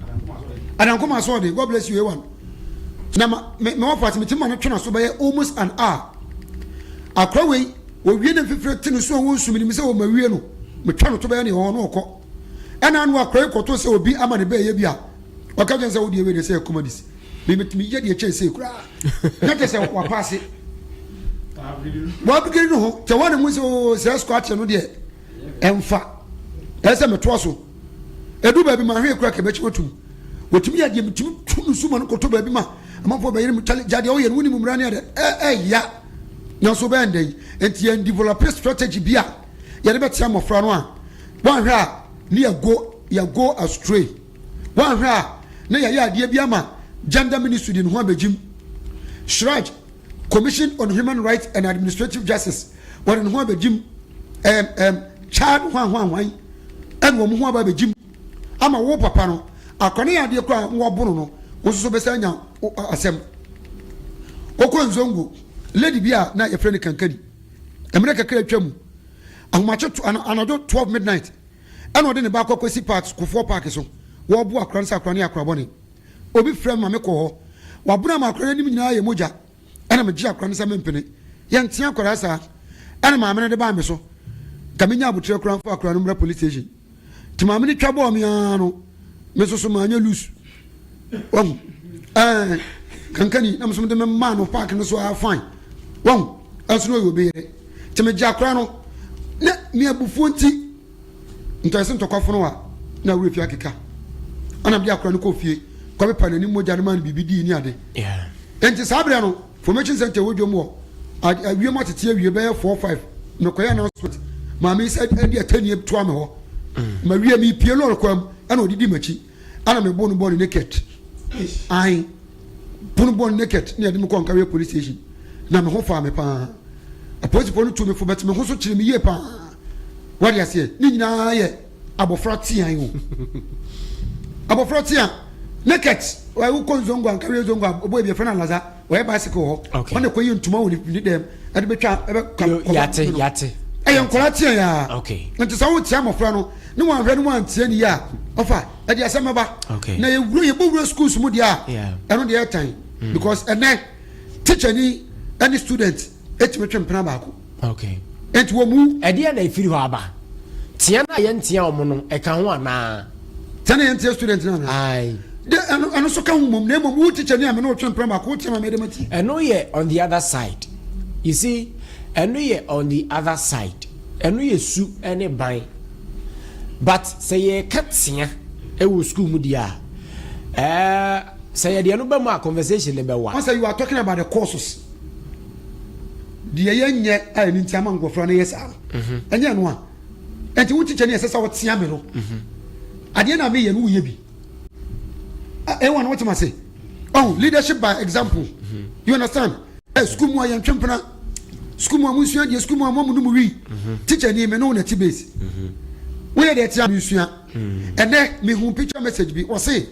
Adankoma asoɔden, God bless you A1. Na ma me me wɔfa ase metumi ma no twena so bɛyɛ almost an hour. Akora wei, owie ne mfifire te ne so a wɔnsu menim sɛ wɔma wie no, metwa no to bɛyɛ nea ɔwɔ no ɔkɔ. Ɛna ano akora yi kɔto sɛ obi ama ne bɛɛyɛ bi a, ɔka kyerɛ sɛ wo deɛ wei deɛ sɛ yɛ comedies. Me metumi yɛ deɛ ɛkyɛn sei koraa. na kyɛ sɛ wapaase wabigiri no ho kyɛ wɔne mu sɛ oo sɛ ɛsukɔ akyɛ no deɛ ɛmfa ɛyɛ sɛ metoa so ɛdu baabi ma ahwee kora kɛbɛkyi wɔtum wɔtumi yɛ deɛ metumi tu no suma no kɔtɔ baabi ma amanfoɔ bɛyere mu kyale gyadeɛ woyɛ no wonim mmara ne ɛdɛ ɛya nanso bɛyɛ ndɛ yi nti yɛn develop strategy bi a yɛde bɛtea mmɔfra no a wɔanhwɛ a ne yɛgo yɛgo astray Woanhwɛ a na yɛayɛ adeɛ bi ama Gender Ministry de ne ho abɛgye mu. Siraj, Commission on Human Rights and Administrative Justice, wɔde ne ho abɛgye mu. Ɛɛm, ɛɛm, Chad hwanhwanhwan na wɔn ho aba abɛgye mu ama wo papa no. Akɔne yɛ adeɛ koraa na wɔabono no, wo nso so bɛsan anya asɛm. Wokɔ Nzongo, lady bi a na yɛfrɛ no Kankani. Mmerɛ kakra atwa mu, ahomakye to, anadwo 12 midnight, Ɛna ɔde ne ba kɔ Kwesi Park Kufoɔ Park so, wɔrebo akora no sɛ akora no yɛ akora bɔne. Obi frɛ me ma mekɔ hɔ. Wabona mu akora no anim nyinaa yɛ mogya. Ɛna megyee akora no sɛ mempene. Yɛnte akwadaa saa. Ɛna maame no de baa me so. Nka menya abotire koraa mfa akwadaa no mmra police station. Nti maame no twa bɔɔ me ara no. Me nso so manyɛ loose. Wahu? Ɛɛ, kankani na me nso mede me maa no park no so ara fine. Wahu? Ɛnso na ɔyɛ obi yere. Nti megye akora no. Ne me abufuo nti, ntɔyɛse ntɔkwa fono a na awura fie akeka. Ɛna mede akora no kɔ fie kɔpepa n'anim mogya no maa no biribi dii ne ade. Ɛnti saa berɛ no. Formation Centre wɔ dwom wɔ awia mu atete awie bɛyɛ four five mekɔyɛ announcement maame sɛ ɛde atɛnie toa me hɔ mawie mepie lɔre kwan mu ɛna ɔde di m'akyi ɛna mebo no bɔ ne naked ae pono bɔ ne naked ne ɛde me kɔ nkareɛ police station na me ho faa me paa apolisifoɔ no tu me fo bɛte me ho so kyerɛ me yie paa wade aseɛ ne nyinaa yɛ Abofra teaa yi o. Abofra tea naked ɔyɛ wokɔ nzongo anka wei nzongo a ɔbɔ ebi ɛfɛ na laza ɔyɛ bicycle hɔ Okay. ɔna ɛkɔ yɛ ntoma wɔ ne ne dɛm ɛde betwa ɛbɛ ka Yo, kɔfa yate, no. yate. ɛyɛ nkɔla tea yaa Okay. nti sɛ wotia mmɔfra no ne wɔn ahwɛ ne wɔn antia ne yie a ɔfa ɛde asɛm ɛba Okay. na yɛ wura yɛ bɔ wura schools mu deɛ a Yeah. ɛno deɛ ɛtan because ɛnɛ teacher ni ɛne student etumi twe mpena baako. Okay. Enti wɔn mu. Ɛdeɛ na efiri hɔ aba. Tia no a yɛn tia wɔn no ɛka ho anaa. Tia na yɛn tia student no anaa. Ayi. De ɛno ɛno so ka ho mom na emom wo teacher ni a me na otwe mpena baako wotia ma mɛ de ma ti. Ɛno yɛ on the other side. You see, ɛno yɛ on the other side. Ɛno yɛ su ɛne ban. But sɛ yɛ ka tia ɛwɔ school mu di a, ɛɛ sɛ yɛ deɛ no bɛ mu a conversation ne bɛ wa. Wɔn sɛ you are talking about the courses. deɛ yɛnyɛ a ɛno nti ama nkɔfoɔ no yɛ saa no mhm. ɛnyɛ ɛno a ɛnti wo tikya ne ɛsɛ sɛ wotea me no mhm. adeɛ na meyɛ no woyɛ bi ɛwɔ no wotema se oh leadership by example mhm. you understand ɛ sukuu mu a yɛntwe mpena sukuu mu a monsua deɛ sukuu mu a moamu no mu wi tikya ni me ne wo na ti base woyɛ deɛ ɛtea me nsua Ɛnɛ mehuu picture message bi ɔse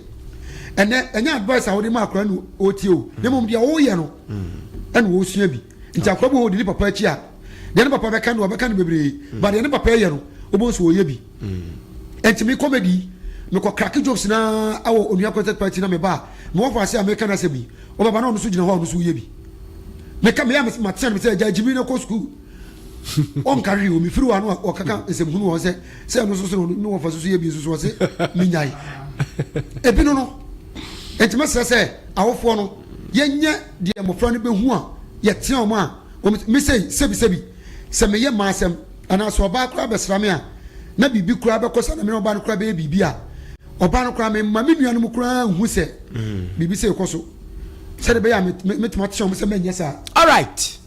ɛnɛ ɛnyɛ advice a wode ma akora no ɔtie o na mmom deɛ woyɛ no ɛna ɔsua bi nti akora bi wɔ ɔdi ne papa akyi a deɛ ne papa bɛka no ɔbɛka no bebree ba deɛ ne papa ɛyɛ no wobɛhu sɛ ɔyɛ bi nti me comedy mekɔ crack jokes na awɔ onua content party na meba a mewɔ faase a meka no asɛm yi ɔbɛba na ɔno so gyina hɔ a ɔno so woyɛ bi meka meyɛ a matea no sɛ gya gyimi na kɔ sukuu ɔnka hwee o mefiri w'ano a ɔkaka nsɛm hunu wɔn sɛ sɛ ɛno nso so ne wɔfa susu yɛ bi nso so ɔse menyae ebi no no ɛnti mɛsrɛ sɛ awofoɔ no yɛnyɛ deɛ mmɔfra no bɛhu a yɛtea wɔn a wɔn mesei sɛbisɛbi sɛ meyɛ mmaa asɛm anaasɛ ɔbaa koraa bɛsra me a na biribi koraa bɛkɔ sa na mene ɔbaa no koraa bɛyɛ biribi a ɔbaa no koraa memma me nuanom koraa nhu sɛ mm. biribi sɛ ɛkɔ so sɛde bɛyɛ a metumi ateɛ wɔn sɛ mɛnyɛ saa all right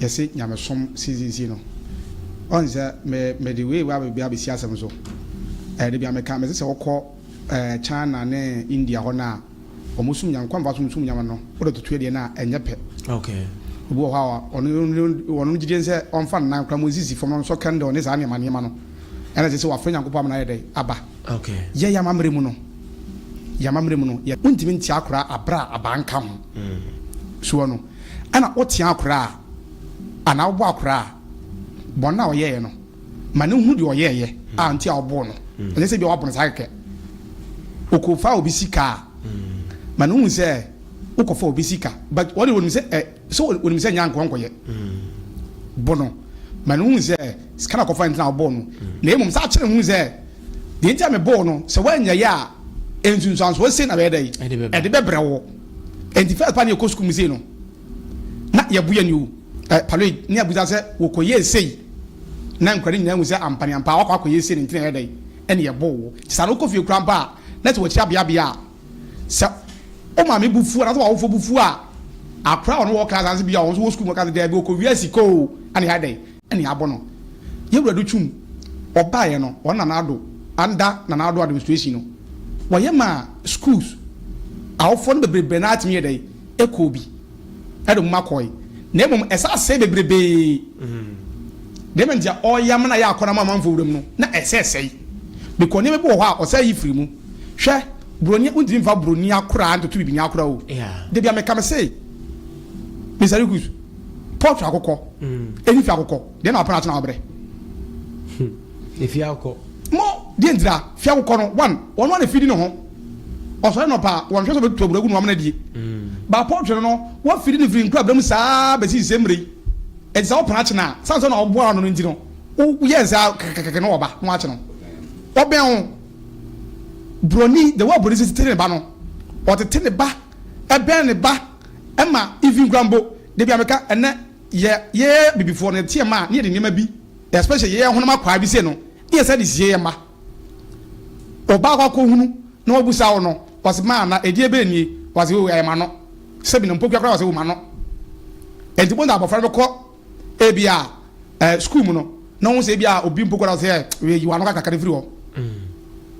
yɛse nyamesom sisisi no ɔn sɛ me mede wei wa bɛbi abɛsi asɛm so ɛɛ de bia meka mese sɛ wokɔ ɛɛ China ne India hɔ no a wɔn sum nyame kwan fa sum sum nyame no wode toto adeɛ no a ɛnyɛ pɛ okay obi wɔ hɔ a ɔno ɔno gyidie sɛ ɔmfa nnan kora mu nsisi fam no nsɔ candle ne saa nneɛma nneɛma no ɛna sɛ sɛ wafrɛ nyankopɔn ama no ayɛ dɛn aba okay yɛ yɛ amammerɛ mu no yɛ amammerɛ mu no yɛ wontumi ntia akora abra abanka ho mm. so ɔno Ɛna wo tea akora a, anaa wobɔ akora a, bɔne no a ɔyɛeɛ no, ma no nhu deɛ ɔyɛeɛ a nti a woboo no. Ɛnyɛ sɛ bia woabɔ no saa kɛkɛ. Ɔkɔ faa obi sika a, ma no nhu sɛ wokɔ fa obi sika, but ɔde ɔnim sɛ ɛ, sɛ ɔnim sɛ ɛnyɛ ankoa nkɔyɛ. Bɔ no, ma no nhu sɛ sika na ɔkɔfa nti na wobɔɔ no, na mmom san kyerɛ no nhu sɛ, deɛ nti a mebɔɔ no, sɛ woanyɛeɛ a, nsunsuansoɔ sei na bɛyɛ dɛn? Ɛde bɛbrɛ wo. Enti first pa ne yɛkɔ sukuu mu sei no, na yɛbo yɛn o, eh, paloi, ne abusa sɛ wɔkɔyɛɛ sei, na nkura no nyinaa hu sɛ ampa ne ampa wakɔ akɔyɛ sei no nti na ɛyɛ dɛn, ɛne yɛboo wo. Nti saa no wokɔ fie kura mpo a, na sɛ wɔkyia beabea a, sɛ wo maame bo fu anaasɛ w'awofo bo fu a, akora a wɔne wɔ class anaasɛ bi a wɔn nso wɔ sukuu mu ka sɛ daabi wɔkɔwia sika o, ɛne yɛayɛ dɛn, Ɛne abo no yɛ wura do twum ɔbaa yɛ no wɔn Nana Addo under Nana Addo administration no wɔ yɛ maa schools awofoɔ no bebrebee no ara tumi yɛ dɛn ɛkɔɔ bi ɛde wɔn mma kɔɔe na mmom ɛsa asɛe bebrebee deɛ ɛma ntia ɔɔyam no a yɛ akɔ no ama amanfoɔ wuram no na ɛsɛ ɛsɛe because nneɛma bi wɔ hɔ a ɔsɛ yi firi mu hwɛ broni wontumi mfa broni akoraa ntoto bibini akoraa o yeah dabia meka me se Mr. Rikus. Paul fi akokɔ. Mm. Efi fi akokɔ. Deɛ na wapɛ na akyena wabrɛ. Hmm. Efi akokɔ. Mo deɛ ntira fi akokɔ no one ɔno ana fidi ne ho. Ɔsɔre nɔpa wɔn hwɛ sɛ ɔbɛtu aburo agu no amena die. Mm. Ba Paul twene no wafidi ne firi nkura abira mu saa bɛsi sɛ mmerɛ yi. Ɛti sɛ wopena akyena a sane sɛ na ɔboa ano no nti no woyɛ nsaa kɛkɛkɛkɛ no ɔba no akyena. Ɔbɛn ho broni the way broni sisi tete ne ba no ɔtete ne ba ɛbɛn ne ba. Ɛma even koraa mpo da bi a meka ɛnɛ yɛ yɛ bibifoɔ no yɛteɛ mma a na yɛde nneɛma bi especially yɛ yɛ honam akwaa bi sei no na yɛ san de sie yɛ mma. Ɔbaa kɔ akɔ hunu na wabu saa wo no wase ma ana ɛdeɛ bɛɛ nie wase wei ayɛ ma no sɛ bi no mpokua koraa wase wo ma no ɛnti bɔnta abɔfra no bɛkɔ ebi a eh, school mu no na wɔn sɛ ebi a obi mpokua wase yɛ wei yi wa no kakra firi hɔ. Mm.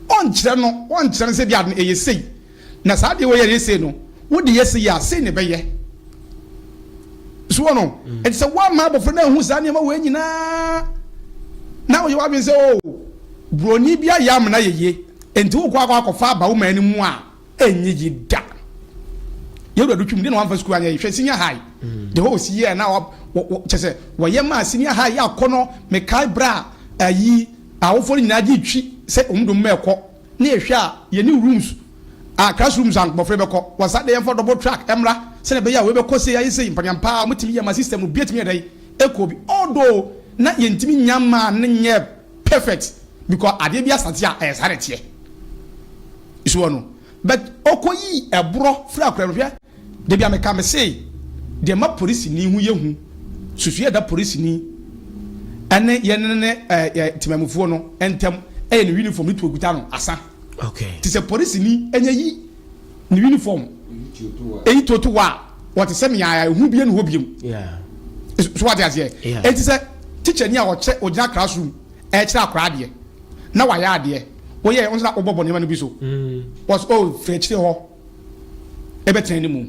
Wɔnkyerɛ no wɔnkyerɛ no sɛ bi a ɛyɛ sei. Na saa deɛ wɔyɛ yɛ sei no, wode yɛ sei a, sei na ɛbɛyɛ. So wɔn no? Ɛte sɛ woamma abɔfra no anhu saa nneɛma wei nyinaa na woyɛ w'adwene sɛ o oh, buroni bi ayɛ amena yɛyie nti wokɔ akɔ akɔfa aba wo man no mu a ɛnyɛ yi da. Yɛwura do twum de na wamfa sukuu anyɛ hwɛ senior high. Mm. The whole si yɛ na kyɛ sɛ wɔyɛ maa senior high yɛ akɔ no mekae berɛ a ayi awofoɔ no nyinaa gye twi sɛ ɔmdom ma ɛkɔ Ne yɛhwɛ a yɛne rooms a class rooms a nkmɔfra bɛkɔ wɔ saa dɛn yɛnfa double track ɛmmra sɛdeɛ ɛbɛyɛ a wei bɛkɔ sei ayɛ sei mpaneampaa a wɔtumi yɛ ma system no biatumi yɛ dɛn ɛkɔ bi although na yɛntumi nya maa no nyɛɛ perfect because adeɛ biara sate a ɛyɛ saa na ɛteɛ so wɔ no but ɔkɔ yii ɛborɔ firi akora no hwɛ Da bi a meka me se deɛ ɛma polisini ho yɛ hu susu yɛ da polisini ɛne yɛne ne ɛɛ temamufoɔ no ntɛm ɛyɛ ne uniform ne tuo kuta no asa okay te sɛ polisini ɛnyɛ yi ne uniform ɛyi tuo to wa wɔte sɛ meaya ehu bie ne hɔ biem so wate aseɛ ɛti sɛ teacher ni a ɔkyɛ ɔgyina classroom ɛkyerɛ akora adeɛ na wayɛ adeɛ wɔyɛ ɔnsɛ na ɔbɔ bɔ nneɛma no bi so wɔsɛ ɔfɛ kyerɛ hɔ ɛbɛtena ne mu.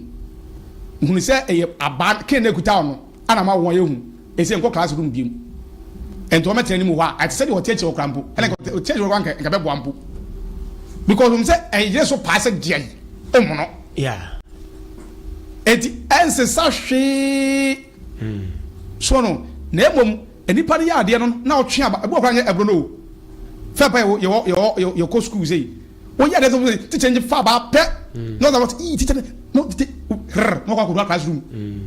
Hunu sɛ ɛyɛ abaa Cain na ɛkutaw no a na ama wɔn ayɛ hu. Ɛsɛ nkɔ class room biom. Ɛnti wɔbɛtena ne mu hɔ a, ɛte sɛ deɛ ɔte akyire hɔ koraa mpo. Ɛna nka ɔte akyire hɔ koraa nka ɛbɛboa mpo. Because wɔn sɛ ɛyere so paa sɛ deɛ ɔmono. Yeah. Ɛnti ɛnsesa hwee. Mm. So no, na mmom, nipa no yɛ adeɛ no na ɔtwe aba. Ɛbɔ koraa nyɛ ɛboro no o. Fɛ pa yɛwɔ yɛwɔ yɛwɔ yɛkɔ school sei. Wo yɛ de sɛ wosɛ teacher nye fa ba pɛ. Mm. Na ɔdza wɔte ii teacher no te hrr na ɔkɔ akɔdua classroom. Mm.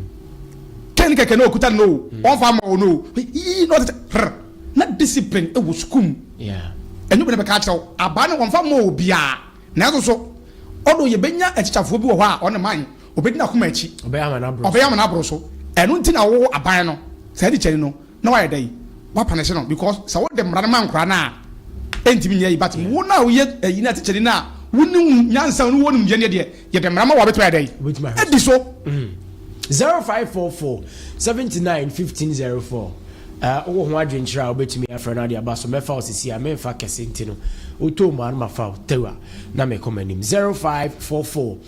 Kɛn kɛkɛ na ɔkuta no o, mm. ɔmfa ma wo no o, ii na ɔte hrr na discipline ɛwɔ e sukuu mu. Yeah. Ɛnyɛ obi na bɛka akyerɛ wo, abaa no ɔmfa ma obiara. Nanso so, ɔdo yɛbɛnya atikyafoɔ bi wɔ hɔ a ɔne man, ɔbɛdi n'akoma akyi. Ɔbɛyɛ ama n'aboro so. Ɔbɛyɛ ama n'aboro so. Ɛno nti na wo aban no, saa tikyani no, Na wayɛ dɛn? W'apanese no because sɛ wode mmara no ma nkwadaa no a ɛntumi nyɛ yi but wo no a woyɛ ɛyi no a tekyɛni no a wonim nyansa no wɔ nimdeɛ deɛ yɛde mmara ma wo a wobɛtumi ayɛ dɛn? Adi so. Mm. Zero five four four seventy nine fifteen zero four. Uh, wowɔ ho adwenkyerɛ a wobɛtumi afrɛ no ade aba so mɛfa wo sisi a memfa kɛse nti no wotoo mu a no mafa wo tɛwa na mekɔ m'anim zero five four four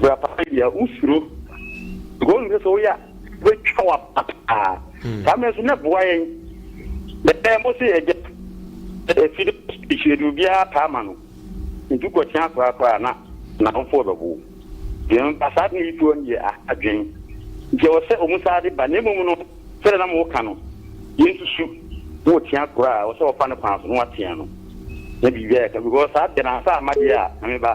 Bra papa yi a wosuro because wonim sɛ sɛ woyɛ a wobɛtwa wo apa paa hmm. saa mmerɛ nso na boa yɛn bɛɛ mo se yɛgya afide hyiade obiara taa ma no nti kɔkyea koraa koraa na n'awofoɔ bɛbo deɛ ba saa de yi toɔ no yɛ adwen nti ɛwɔ sɛ ɔmu saa de ba na mmom no sɛdeɛ na mo woka no yɛnsusu na ɔtea koraa ɔsɛ ɔfa no kwan so na watea no na biribiara yɛka because saa deɛ na ansa amadeɛ a na meba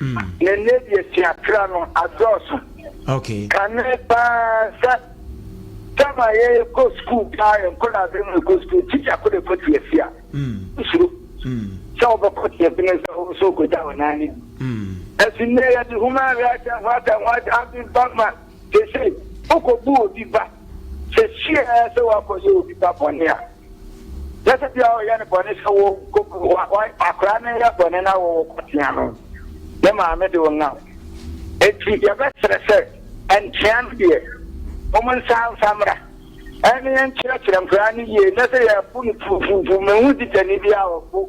na ɛnnɛ deɛ atuatra no adɔɔso. Kane paa sɛ tam a yɛkɔ sukuu paa yɛ nkɔdaase no na ɛkɔ sukuu tikya ko na ɛkɔ tiasi a nsuro sɛ wobɛkɔ tiasi no sɛ wo nso wokɔgya wo nan no bi ɛsi nnɛ yɛde human rights and what and what abe ba ma sese wokɔbu obi ba sɛ siaa sɛ woakɔyɛ obi ba bɔne a Sɛsɛ bia ɔyɛ no bɔne sɛ wo akora no yɛ bɔne na wɔwɔ kɔtea no ne maame de wo nam enti yɛbɛsrɛ sɛ nkyea no deɛ wɔn nsa nfa mmra ɛne nkyerɛkyerɛ nkora no yie na sɛ yɛbu no tuutuutu mehu tikani bi a ɔbu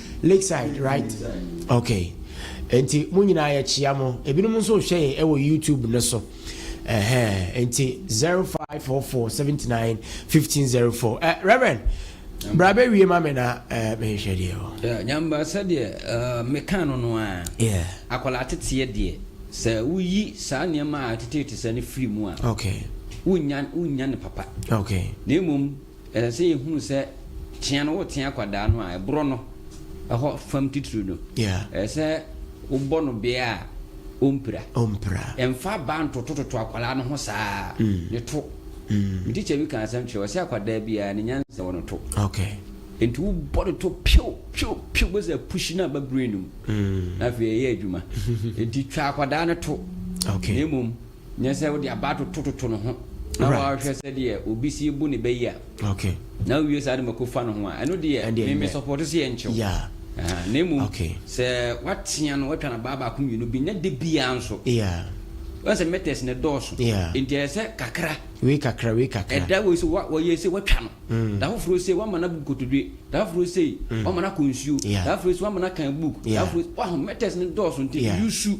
Lakeside right ok nti mo nyinaa yɛkyia mo ebinom nso rehwɛ yɛn ɛwɔ YouTube no so ɛhɛn nti zero five four four seventy nine fifteen zero four ɛ eh, Reverend bra bɛ wie ma mi na ɛ eh, mehwehwɛ deɛ wɔ. Nyamba sɛdeɛ eh, mekaa no no a akwadaa teteɛ deɛ sɛ woyi saa nneɛma a ɛtetete sɛ no firi mu a wonnya ne papa na mmom Ɛsɛ sɛ yɛhunu sɛ tea no wotea akwadaa no a, ɛborɔ no hɔ fam titiriw no, ɛsɛ sɛ wobɔ no bea a ɔmpira. Ɛmfa abaa ntotototo akwadaa no ho saa, ne to. Me tikya bi kaa asɛm kyerɛ, ɔse akwadaa biara ne nyansa wɔ ne to. Enti wobɔ ne to pio pio pio, wobɛsɛ apushi no aba brain no mu, na afei ɛyɛ adwuma. Enti twa akwadaa no to, na mmom. Nyɛ sɛ wode aba atotototo ne ho na wahwɛ sɛdeɛ obi si bu ne ba yi a, na wowie saa de ma kɔfa ne ho a, ɛno deɛ me me sɔpɔto sɛ yɛnkyew. Na mmom sɛ watea no, watwa no abaa baako mmienu bi, nyɛ de biara nso. Wɔn sɛ meters na ɛdɔɔso, nti ɛyɛ sɛ kakra. Wei kakra, wei kakra. Ɛda wei sɛ wɔyɛ sɛ watwa no, mm. da foforɔ sɛ wama no agu kotodwe, da foforɔ sɛ mm. wama no akɔ nsuo, da foforɔ sɛ wama no akan book, da foforɔ waho meters no dɔɔso nti yusu.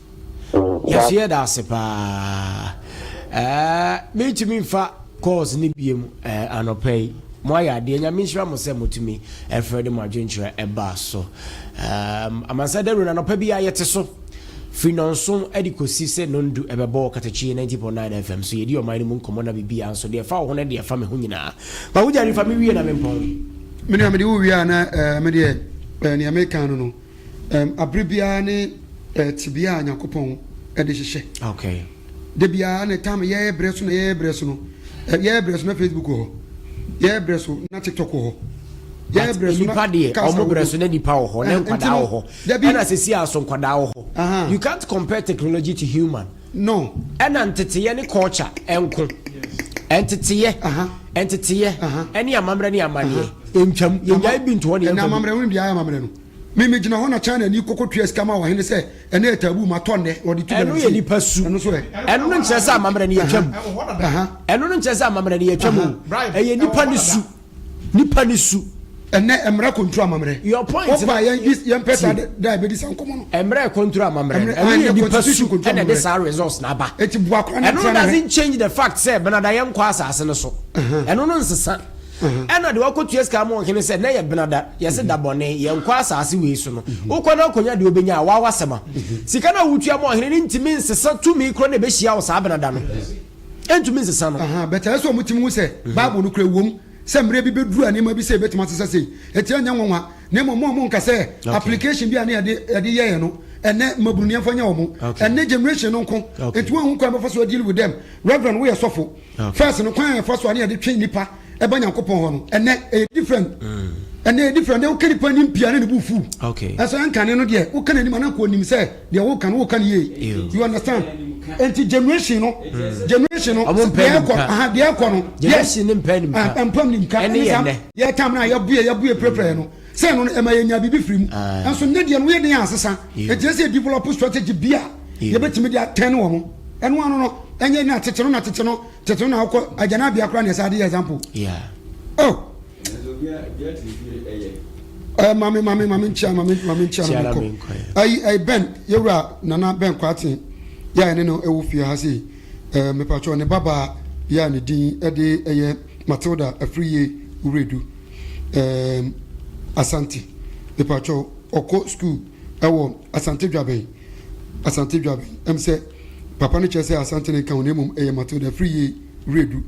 Yɛse yɛdaase paa ɛɛ mentumi nfa calls ne biem ɛɛ anɔpa yi mo ayɛ adeɛ nyame nhyira mo sɛ motumi ɛfrɛ de mo adwenkyerɛ ɛbaa so ɛɛm amansa dawuro no anɔpa bi a yɛte so firi nɔnson ɛde kɔsi sɛ nondu ɛbɛbɔ wɔ katakyi 90.9 fm so yɛdi ɔman no mu nkɔmmɔ na biribi a nso deɛ ɛfa wo ho ne deɛ ɛfa me ho nyinaa ma wogyare fa me wie na mempɔn me nua mede wo wie a na ɛɛ medeɛ ɛɛ nea meka no no Bere biara ne tebea a Nyankopɔn de hyehyɛ. Okay. Da biara ne tam yɛyɛ brɛ so na yɛyɛ brɛ so no. Yɛyɛ brɛ so na Facebook wɔ hɔ. Yɛyɛ brɛ so na TikTok wɔ hɔ. Yɛyɛ brɛ so na nipa deɛ ɔmo brɛ so na nipa wɔ hɔ na nkwadaa wɔ hɔ. Ɛna sisi a so nkwadaa wɔ hɔ. You can't compare technology to human. No. Ɛna nteteɛ ne culture ɛnko. Nteteɛ. Nteteɛ. Ɛne amammerɛ ne amaneɛ. Ɛntwam. Yɛnyae bi nto hɔ ne yɛmfa bi. Ɛna amammerɛ, wone deɛ ayɛ amammerɛ no. Me me gyina hɔ na China ni kɔkɔ tua sika ma ɔhene sɛ ɛno yɛ taboo ma tɔ nnɛ na ɔde tu galamsey. Ɛno yɛ nipa su. Ɛno so ɛ. Ɛno no nkyerɛ sɛ amammerɛ no yɛtwa mu. Ɛno no nkyerɛ sɛ amammerɛ no yɛtwa mu. Ɛyɛ nipa ne su. Nipa ne su. Ɛnɛ ɛmmerɛ kɔnturu amammerɛ. Your point no. Ɔpa yɛn yɛn pɛ saa de da ɛbɛdi saa nkɔmɔ no. Ɛmmerɛ kɔnturu amammerɛ no. Ɛno yɛ nipa su ɛna ɛde saa results na aba. Ɛti bu akora ne tira ne hɛ. Ɛno doesn't change the fact sɛ benada yɛn kɔ asase no so. Ɛno no nsesa. ɛna deɛ wakɔtua sika ama ɔhene sɛ na yɛ benada yɛse da bɔne yɛnkɔ asase wei so no wokɔ no akɔnya deɛ wobɛnya a wawa sɛm a sika no a wotua ma ɔhene no ntumi nsesa tumi korɔ na ɛbɛhyia wo saa benada no ɛntumi nsesa no bɛtɛ sɛ ɔmo tumi hu sɛ bible no kora ɛwom sɛ mmerɛ bi bɛduru a nneɛma bi sɛ ɛbɛtumi asesa sei ɛti ɛnyɛ nwanwa na mmom ɔmo nka sɛ application bi a ne yɛde yɛɛ no ɛnɛ mmabunu nneɛmfa nyɛ ɔmo ɛnɛ generation no nko ɛti wɔn ho kwan bɛfa so adili with them reverend woyɛ sɔfo First no kwan a yɛfa so a ne yɛde twe nnipa ba Nyankopɔn hɔ no ɛnɛ ɛyɛ different ɛnɛ ɛyɛ different ɛnɛ woka nipa anim pii a na ne bo fuw nanso ɛnkane no deɛ woka n'anim a na nka ɔnim sɛ deɛ woka no woka no yie you understand ɛnti generation no generation no deɛ ɛkɔ aha deɛ ɛkɔ no yes mpam nimka ɛne saa yɛ tam no a yɛbue yɛbue prɛprɛ no Sɛ ɛno no, ɛma yɛnya biribi firi mu. Nanso nnɛ deɛ no, woyɛ den ansesa. Enti ɛsɛ sɛ yɛdevelɔpo strategy bi a yɛbɛtumi de atɛne wɔn. Ɛno ano no, ɛnyɛ na tete no na tete no, tete no na wokɔ agyanabea koraa na ɛsɛ ade yɛ example. Oh! Eh, mame, mame, mame nkyia, mame, mame nkyia na menkɔ. Ayi, ayi, Ben, yɛwura Nana Ben Kwaaten, yɛ a ɛne no ɛwɔ fie ha sei. Eh, mepatwɔ ne babaa, yɛ a ne din ɛde ɛyɛ Matilda Afriyie Wuredu. Eeemm Asante mepakyɛw ɔkɔ school ɛwɔ Asante Dwabɛn Asante Dwabɛn ɛm sɛ papa no kyerɛ sɛ Asante no nka ho na mmom ɛyɛ Matilda firi yie Wiredu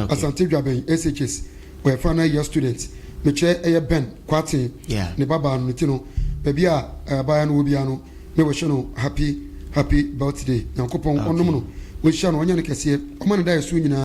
Asante Dwabɛn SHS ɔyɛ final year student mekyerɛ ɛyɛ Ben Kwarteng ne ba baa no ne ti no baabi a abaayewa no wɔ biara no me wish no happy happy birthday Nyankopɔn ɔnnom no ɔnhyira no ɔnyɛ no kɛseɛ ɔma ne daeɛ so nyinaa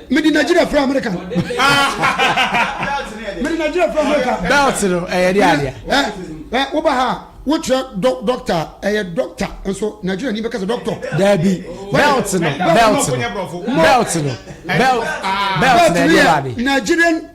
Mede Nigeria firi America. Mede Nigeria firi America. Belt no ɛyɛ de adeɛ. Ɛ woba ha wokyerɛ dɔkta ɛyɛ dɔkta nso Nigeria ni bɛka sɛ dɔktɔ. Daabi belt no belt no belt no belt belt no ɛyɛ de adeɛ. Nigerian.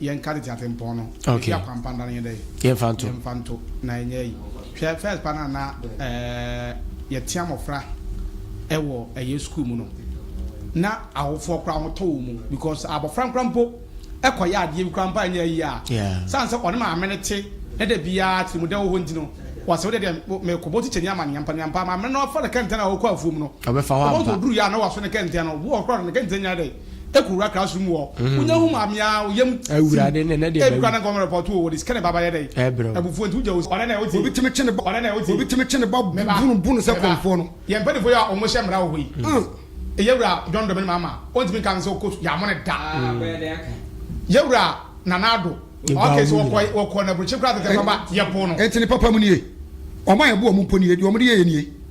Yɛnka tete atempɔn no. Yɛnsi akwanpa nda no yɛn dɛn? Yɛmfa nto. Yɛmfa nto na yɛnyɛ ayi. Hwɛ first pa no a na yɛtea mmɔfra wɔ ɛyɛ sukuu mu no, na awofoɔ koraa wɔtɔ wɔn mu because abɔfra nkora mpo kɔyɛ adeɛ bi koraa mpo a ɛnyɛ ayi a, sane sɛ ɔne maame no te na da biara tirimudɛ wɔ hɔ nti no, wɔsɛ wodeɛ deɛ mekɔbɔ tikyani ama no yɛmpa no yɛmpa, maame no afa ne kɛntɛn a ɔkɔ afuom no, ɔbɛfa hɔ ampa. Ɔbɛsɛ ɔduru yɛ a na wɔaso ne kɛntɛn no, ɔkora no ne kɛntɛn nyɛ dɛn? eku wura kra sum wɔ wo nya hu mu amea wo yam ti ebi kra na nkɔmɔ report wo wɔde sika na ɛba bayɛ dɛn abufuo nti wogya wo ɔne na ɛwɔ ti obi timi kye ne ba ɔne na ɛwɔ ti obi timi kye ne ba bunu bunu sɛ kɔmfoɔ no yɛn mpanyinfoɔ yi a wɔn hyɛ mmara wɔ hɔ yi yɛ wura John Domini Mahama wɔn ntumi nka nsɛ ɔkɔ su yɛ amɔ ne da yɛ wura Nana Addo ɔkɛ sɛ ɔkɔ ɔkɔ na aburukyiri kura tete papa yɛ po no ɛnti ne papa mu nie wɔn a yɛ bo wɔn mpo nie deɛ wɔn de yɛ yɛ nie.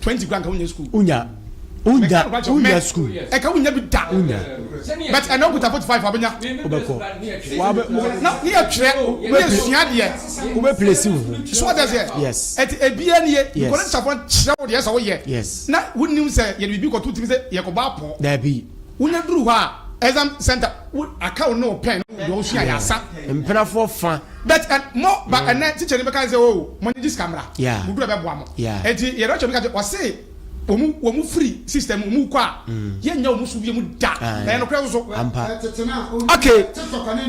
twenty kura nka wonya school. Wonya wonya wonya school. Ɛka wonya bi da. Wonya. But ɛna okuta forty five abenya. Wobɛkɔ. Wabɛ na ne yɛ twerɛ ne yɛ sua deɛ. Wobɛ place wo ho. So ɔtɛ seɛ. Yes. Ɛti ebia ni yɛ. Yes. Nkɔla nsafo kyerɛ wo deɛ sɛ woyɛ. Yes. Na wonim sɛ yɛ de bibi kɔto timi sɛ yɛ kɔba apɔ. Daabi. Wonya duru hɔ a exam center wo aka wo ne wo pɛn deɛ wosua yɛ asa. Mpenafoɔ fa. But ɛn mo ba ɛnɛ teacher ni bɛka sɛ oo mo nyegye sika mmra mo duru ɛbɛboa mo ɛnti yɛn rapture bɛka sɛ ɔse wɔn wɔn firi system wɔn kɔ a yɛn nya wɔn so biom da ɛyɛ nokorɛ nso ok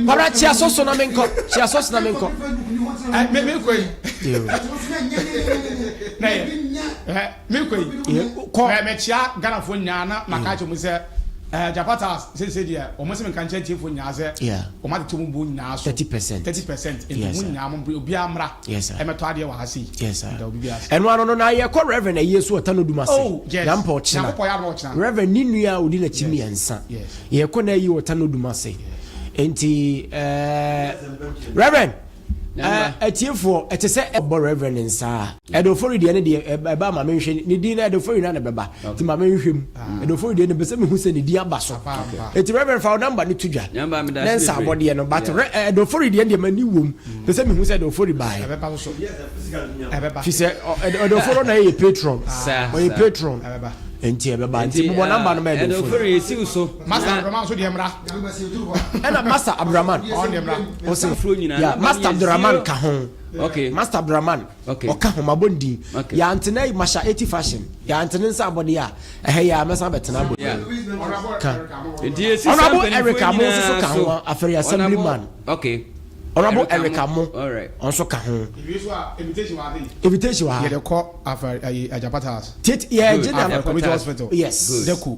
kwabra kyia so so na me nkɔ kyia so so na me nkɔ me me kɔ yi na yɛ. Me kɔ yi eh, kɔ mɛ mɛ kyia Ghana fo nyaa na ma ka kyɛ mu sɛ eh, Japata sese deɛ wɔn sɛ nka nkyɛn tie fo nyaa sɛ wɔn atete wɔn bo nyaa so thirty percent thirty percent nti wɔn nyaa wɔn obi amra ɛmɛtɔ adeɛ wɔ ha se yi nda obi bi ase. Ɛno ano no na yɛkɔ Reverend ayie so ɔta no dum ase oh, na mpa ɔkyena Reverend ne nua a odi n'akyi mmiɛnsa yɛkɔ na ayi ɔta no dum ase nti eh, Reverend. Ɛɛ atiefoɔ, ɛte sɛ ɛbɔ Rev. no nsa a. Ɛdofori deɛ ne deɛ ɛba ma menhwɛ ne din no Ɛdofori na ne bɛba nti ma menhwɛ mu Ɛdofori deɛ mepɛ sɛ mehu sɛ ne din aba so nti Rev. fa wo number no to dwa ne nsa abɔ deɛ no but Ɛdofori deɛ deɛ m'ani wom pɛ sɛ mehu sɛ Ɛdofori baeɛ fi sɛ Ɛdofori na yɛ patron ɔyɛ patron nti ɛbɛba nti bobɔ ah, namba no ma ɛdofori ɛna masa abraman ɔsɛ ya master abdulrahman ka ho okay master abdulrahman okay ɔka ho mabɔ ne din okay ya ntena yi masha eti fashion ya ntena nsa abɔde ya ɛhɛ ya mɛsan bɛtena abɔ ka ɔnabɔ erika mo nso so ka ho afɛre assembly man okay ɔnabɔ erika mo ɔnso ka ho invitation wa ha yɛde kɔ afɛre ayi ajapata house tit yɛ general community hospital yes deku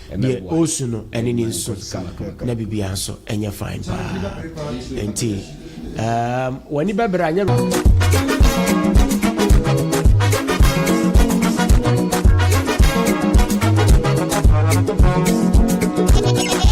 Deɛ ɔresu no ɛne ne nsu na biribiara nso ɛnyɛ fine paa nti um, w'ani bɛbrɛ anyɛ